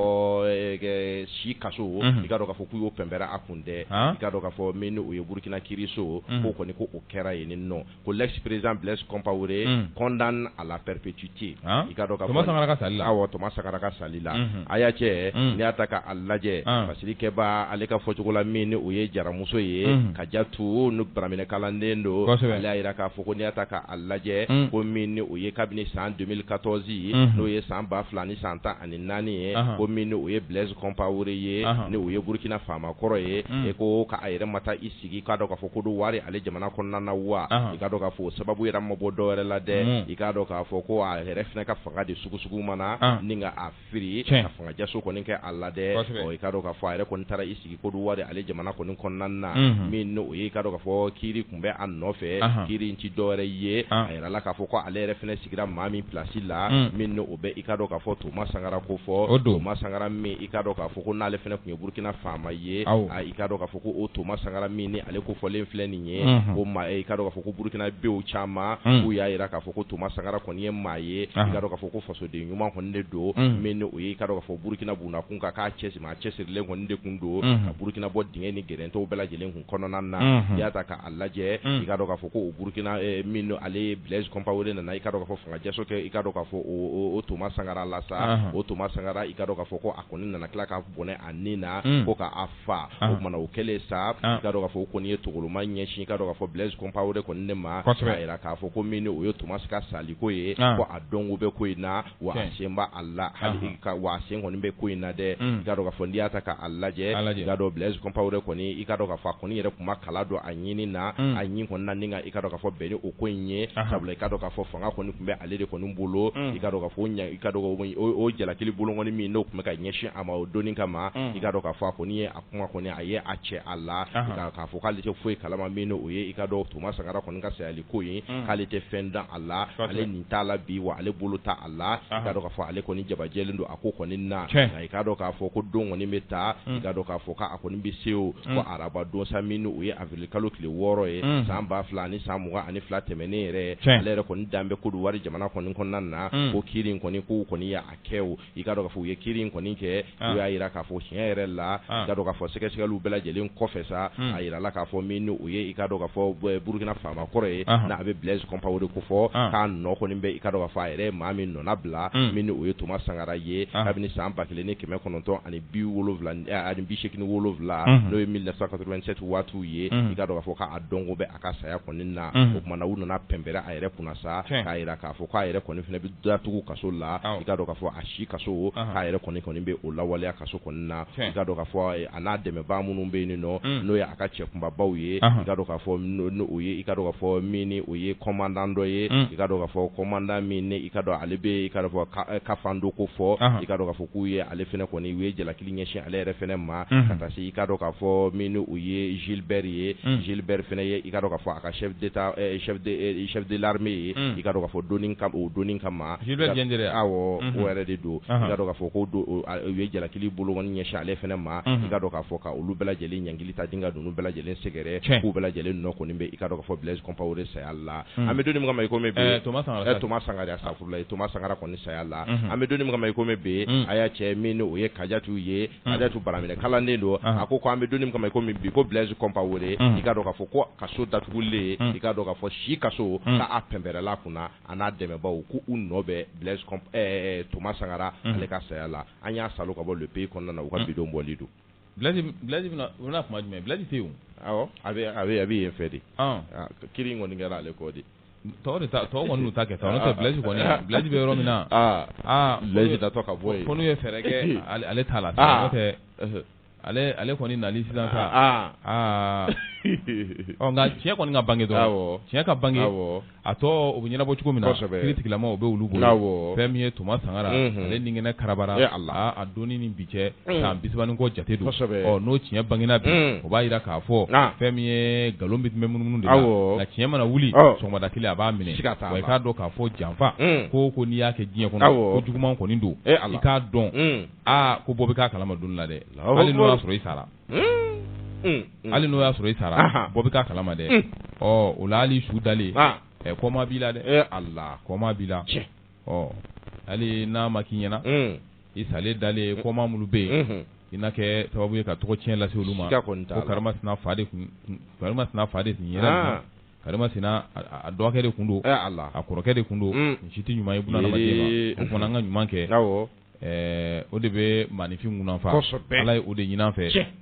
si kaso i ka dɔn k'a fɔ k'u y'o pɛnpɛrɛ a kun dɛ i ka dɔn k'a fɔ min ni o ye burukina kiiriso k'o kɔni ko o kɛra yen nin nɔ ko l'ex-président blaise compaoré condamné à la perpétuité ci i k'a dɔn k'a fɔ toma sangara ka sali la a y'a cɛ n'i y'a ta k'a lajɛ fasirikɛbaa ale ka fɔcogo la min ni o ye jaramuso ye kajatu n'o baraminɛ kalanden don ale y'a jira k'a fɔ ko n'i y'a ta k'a lajɛ ko min o ye kabini san deux mille quatorze n'o ye san ba fila ni san tan ani naani ye ko min o ye bilɛsi kɔnpawore ye ni o ye burukina faama kɔrɔ ye e ko k'a yɛrɛ ma taa i sigi k'a dɔn k'a fɔ kodiwari ale jamana kɔnɔna na wa i k'a dɔn k'a fɔ sababu yɛrɛ ma bɔ dɔwɛrɛ la dɛ i k'a dɔn k'a fɔ ko a yɛrɛ fana ka fanga de sugu sugu ma na ni ka a firi ka fangajaso kɔni kɛ a la dɛ i k'a dɔn k'a fɔ a yɛrɛ kɔni taara i sigi kodiwari ale jamana kɔni kɔnɔna na min o ye i k'a dɔn k'a fɔ kiiri tun bɛ a nɔfɛ kiiri in tɛ dɔwɛrɛ ye a yɛrɛ la k'a fɔ ko ale yɛrɛ fana sigira maa min plasi la min o bɛ i k'a dɔn k'a fɔ toma sangara ko fɔ o toma sangara min i k'a dɔn k'a fɔ ko n'ale fana tun ye burukina faama ye i k'a dɔn k'a fɔ ko o toma sangara min ni ale ko fɔlen filɛ nin ye ko maa ye i k'a dɔn k'a fɔ ko burukinabew caman k'u y'a jira k'a fɔ ko toma sangara kɔni ye maa ye i k'a dɔn k'a fɔ ko fasoden ɲuman kɔni de don min o y'i k'a dɔn k'a fɔ burukina buna kunkan k'a cɛ a cɛsirilen kɔni de tun don ka burukina bɔ dingɛ ni gɛrɛntɛw bɛɛ lajɛlen kun kɔnɔna na i y'a ta k'a lajɛ i k'a dɔn k'a fɔ ko burukina min ale bilɛsi kɔnpawore nana i k'a dɔn k'a fɔ fangajaso kɛ i k'a dɔn k'a fɔ o toma sangara la sa o toma sangara i k'a dɔn k'a fɔ ko a kɔni nana tila ka bɔnɛ a ni na ko k' fa o tuma na o kɛlen sa i k'a dɔn k'a fɔ o kɔni ye togoloma ɲɛsin i k'a dɔn k'a fɔ bilɛsi kɔnpawore kɔni de ma k'a jira k'a fɔ ko min o ye tomasi ka saliko ye ko a dɔnko bɛ ko in na wa a sen b'a la hali wa a sen kɔni bɛ ko in na dɛ i k'a dɔn k'a fɔ n'i y'a ta k'a lajɛ i k'a dɔn bilɛsi kɔnpawore kɔni i k'a dɔn k'a fɔ a kɔni yɛrɛ kuma kala don a ɲinin na a ɲinin kɔni na i k'a dɔn k'a fɔ bɛn ni o ko in ye ka i k'a dɔn k'a fɔ fanga kɔni tun bɛ ale de kɔni bolo i k'a dɔn k'a fɔ i k'a dɔn o jalakili bolokɔni min n'o tun bɛ ka ɲɛsin a ma o de nin kama i k'a dɔn k'a fɔ a kɔni ye a kuma kɔni a ye a cɛ a la k'a fɔ k'ale tɛ foyi kalama min o ye i k'a dɔn toma sangara kɔni ka sayali ko ye k'ale tɛ fɛn dɔn a la ale nin t'a la bi wa ale bolo t'a la i k'a dɔn k'a fɔ ale kɔni jabajɛlen don a ko kɔni na i k'a dɔn k'a fɔ ko don kɔni bɛ taa i k'a dɔn k'a fɔ k'a kɔni bɛ se o ko araba don sa min o ye awirilikalo tile wɔɔrɔ ye san ba fila ani san mugan ani fila tɛmɛnen yɛrɛ ale yɛrɛ kɔni dan bɛ kodiwari jamana kɔni kɔnɔna na ko kiiri in kɔni ko kɔni y'a kɛ o i k'a dɔn k'a fɔ u ye kiiri in kɔni kɛ u y'a jira k'a fɔ tiɲɛ yɛrɛ la i k'a dɔn k'a fɔ sɛgɛsɛgɛliw bɛɛ lajɛlen kɔfɛ sa a jirala k'a fɔ min o ye i k'a dɔn k'a fɔ burukina faama kɔrɔ ye n'a bɛ bilɛsi kɔnpawore ko fɔ k'a nɔ kɔni bɛ i k'a dɔn k'a fɔ a yɛrɛ maa min nɔnabila min o ye toma sangara ye kabini san ba kelen ni kɛmɛ kɔnɔntɔn ani bi wolo ani bi segin ni wolonwula n'o ye mille neuf cent quatre-vingt-sept waatiw ye i k'a dɔn k'a fɔ k'a dɔnko bɛ a ka saya kɔni na o tuma na u nana pɛnpɛrɛn a yɛrɛ kunna sa k'a jira k'a fɔ k'a yɛrɛ kɔni fɛnɛ bɛ datugu kaso la i k'a dɔn k'a fɔ a si kaso k'a yɛrɛ kɔni kɔni bɛ o lawaleya kaso kɔni na i k'a dɔn k'a fɔ a n'a dɛmɛbaa minnu bɛ yen nɔ n'o ye a ka cɛ kunbabaw ye i k'a dɔn k'a fɔ i k'a dɔn k'a fɔ min n'o ye commandant dɔ ye i k'a dɔn k'a fɔ commandant min i k'a dɔn ale bɛ i k'a dɔn k'a fɔ Kafando ko fɔ i k'a dɔn k'a fɔ k'u ye ale fɛnɛ kɔni u ye jalaki ɲɛsin ale yɛrɛ fana ma ka taa i kaa dɔn k'a fɔ min u ye zilibri ye zilibri fana ye i kaa ka fɔ a ka sɛbɛnddilame ye i kaa ka fɔ don ka o don ka ma o yɛrɛ de don ka ka fɔ ko don u ye jalakili bolo ɲɛsin ale fana ma i kaa dɔn k'a fɔ ka olu bɛɛ lajɛlen ɲgili ta denkɛ ka don bɛɛ lajɛlen sɛgɛrɛ k'u bɛɛ lajɛlen nɔ kɔni bɛ i ka fɔ bilasi panp o de saya la an bɛ don ma i to sanga sa i to sanga saya la an bɛ don min kama i kɔmi bi a y'a cɛ min n'o ye Kajatu ye Kajatu baraminɛ kalanden don a ko an bɛ don min kama kɔmi bi ko Blaise Compaoré i k'a dɔn k'a fɔ ko kaso datugulen i k'a dɔn k'a fɔ si kaso k'a pɛnpɛrɛla kunna a n'a dɛmɛbagaw ko u nɔ bɛ Blaise Thomas Sankara ale ka saya la an y'a salo ka bɔ Le Pays kɔnɔna na u ka bi don bɔli don Blaise bɛ na tuma jumɛn Blaise tɛ a a bɛ yen fɛ de kiri kɔni kɛra ale kɔ de Tɔw tɔw kɔni n'u ta kɛta n'o tɛ Blaise kɔni Blaise bɛ yɔrɔ min na Blaise tɔ ka bɔ ko n'u ye fɛɛrɛ kɛ ale ta la n'o tɛ ale kɔni nali sisan aa aa nka tiɲɛ kɔni ka bange dɔrɔn tiɲɛ ka bange a tɔ o bɛ ɲɛnabɔ cogo min na kiritigɛlaw o bɛ olu bolo fɛn min ye Thomas Sankara ale ni kɛnɛ karabara a don ni bi cɛ bisaban ni kɔ jate don n'o tiɲɛ bangena bi o b'a jira k'a fɔ fɛn min ye nkalon bɛ tun bɛ munumunu de nka tiɲɛ mana wuli sɔgɔmada kelen a b'a minɛ i k'a dɔn k'a fɔ janfa ko ko n'i y'a kɛ diɲɛ kɔnɔ ko juguman kɔni don i k'a dɔn aa ko bɔ bɛ k'a kalama don la dɛ hali n'o y'a sɔrɔ i sara hali n'o y'a sɔrɔ i sara bɔ bɛ k'a kalama dɛ ɔ o la hali i su dalen ɛ kɔmaa b'i la dɛ a la kɔmaa b'i la hali n'a ma k'i ɲɛna i salen dalen kɔmaa minnu bɛ yen i na kɛ sababu ye ka tɔgɔ tiɲɛ lase olu ma ko karimasina fa de karimasina fa de tun ye karimasina a dɔgɔkɛ de tun don a kɔrɔkɛ de tun don nin si tɛ ɲuman ye bunadamaden ma o fana an ka ɲuman kɛ o de bɛ maaninfin munafa Ala ye o de ɲini an fɛ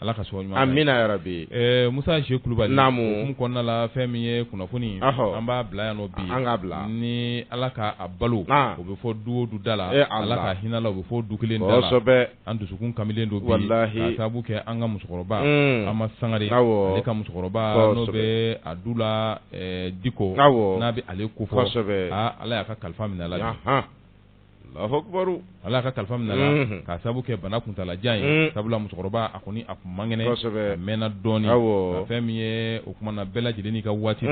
Ala k'an sɔn ɲuman na. Amina yarabi. Ɛɛ Musa Ze Kulubali. Naamu. O hukumu kɔnɔna la fɛn min ye kunnafoni. Ɔhɔ! An b'a bila yan nɔ bi. An k'a bila. Ni Ala ka a balo. An! O bɛ fɔ du o du da la. E Ala! Ala ka hinɛ a la, o bɛ fɔ o du kelen da la. Kosɛbɛ! An dusukun kamilen don bi. Walahi! K'a sababu kɛ an ka musokɔrɔba. Un! Ama Sangare. Awɔ! Ale ka musokɔrɔba. Kosɛbɛ! N'o bɛ a du la ɛɛ Diko. Awɔ! N'a bɛ ale ko fɔ. Kosɛbɛ! Aa Ala y'a ka kalifa minɛ a la bi. Anhan! Allahu akbar ala ka kalifa minɛ a la k'a sabu kɛ bana kuntaalajan ye sabula musokɔrɔba a kɔni a kun man kɛnɛ a mɛnna dɔɔnin fɛn min ye o kumana bɛɛ lajɛlen n'i ka waati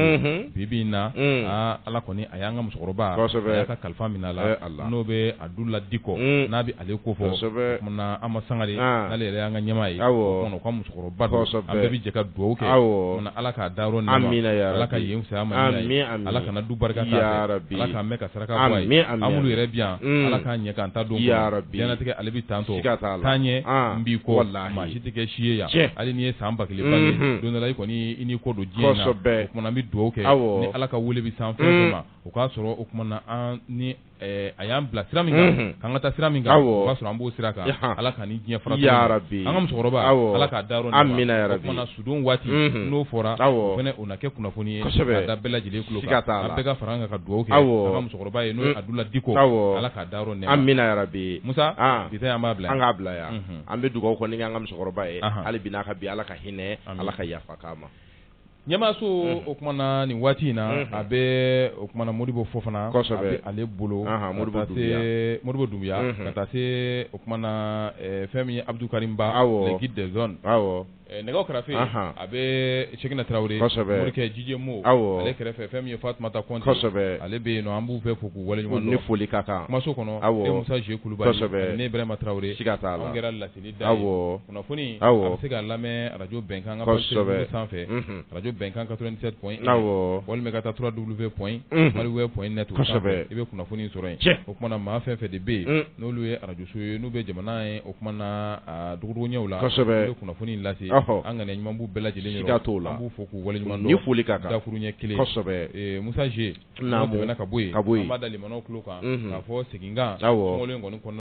bi bi in na aa ala kɔni a y'an ka musokɔrɔba a y'a ka kalifa minɛ a la n'o bɛ adula diko n'a bɛ ale ko fɔ o kumana ama sangare n'ale yɛrɛ y'an ka ɲɛmaa ye ka kɔrɔba don Kɔsɛbɛ. an bɛɛ bɛ jɛ ka dugawu kɛ Awɔ. O kumana ala k'a dayɔrɔ nɛɛma. Amina ya ala ka Rabi. yen fisaya a ma Amin, ye. amin. ala kana du barika k'a Ya fɛ. Rabi. ala k'an mɛn ka saraka bɔ a Amin, ye amin, an minnu amin. yɛrɛ bi yan Mm. ala k'an ɲɛ k'an ta don Ya Rabi. diɲɛnatigɛ ale bɛ tan tɔ Siga t'a la. taa ɲɛ Ah, n b'i kɔ wallahi. maa si tɛ kɛ si ye yan Tiɲɛ. hali n'i ye san ba kelen bange Mhm. don dɔ la i kɔni i n'i kɔ don diɲɛ in na Kɔsɛbɛ. o kumana an bɛ dugawu kɛ Awɔ. ni ala ka wele bɛ s'an fɛn o fɛn Mm. ma o k'a sɔrɔ o kumana an ni a y'an bila sira min kan k'an ka taa sira min kan o k'a sɔrɔ an b'o sira kan ala k'an ni diɲɛ fara ya rabi an ka musokɔrɔba ala k'a dayɔrɔ nɛɛma o kumana sudon waati n'o fɔra o fana o na kɛ kunnafoni ye ka da bɛɛ lajɛlen tulo kan an bɛɛ ka fara an kan ka dugawu kɛ awɔ an ka musokɔrɔba ye n'o ye adula diko ala k'a dayɔrɔ nɛɛma amina ya rabi musa an b'a bila an k'a bila yan an bɛ dugawu kɔni kɛ an ka musokɔrɔba ye hali bi n'a ka bi ala ka hinɛ a la ka yafa k'a ma ɲɛmaaso o kumana nin waati in na a bɛ o kumana modibo fofana kɔsɛbɛ a bɛ ale bolo modibo dunbuya ka taa se o kumana fɛn min ye abudu karimu ba aw le guide des ondes aw nɛgɛw kɛrɛfɛ a bɛ sɛkina tarawele morikɛ jije mo aw ale kɛrɛfɛ fɛn min ye fatumata konte kɔsɛbɛ ale bɛ yen an b'u bɛɛ fo k'u waleɲuman dɔn ni foli ka kan kumaso kɔnɔ aw musa je kulubali ne ibrahima tarawele ka taa an kɛra la kunnafoni se ka lamɛn araj bɛnkan sanfɛ araj bɛnkan ka walima ka taa du bɛ pɔɔn i bɛ kunnafoni sɔrɔ cɛ o tumaumana maa fɛn fɛ de bɛ yen n'olu ye arajso ye n'u bɛ jamana ye o ɲɛ la ye kunnafoni lase an kana ɲumanbu bɛɛ lajɛlen ka to la b' fɔ k'u wale ɲuman foli ka dakuru ɲɛ kelen musazse ka bɔ ka bɔ kan ka fɔ seginkan kɔnɔ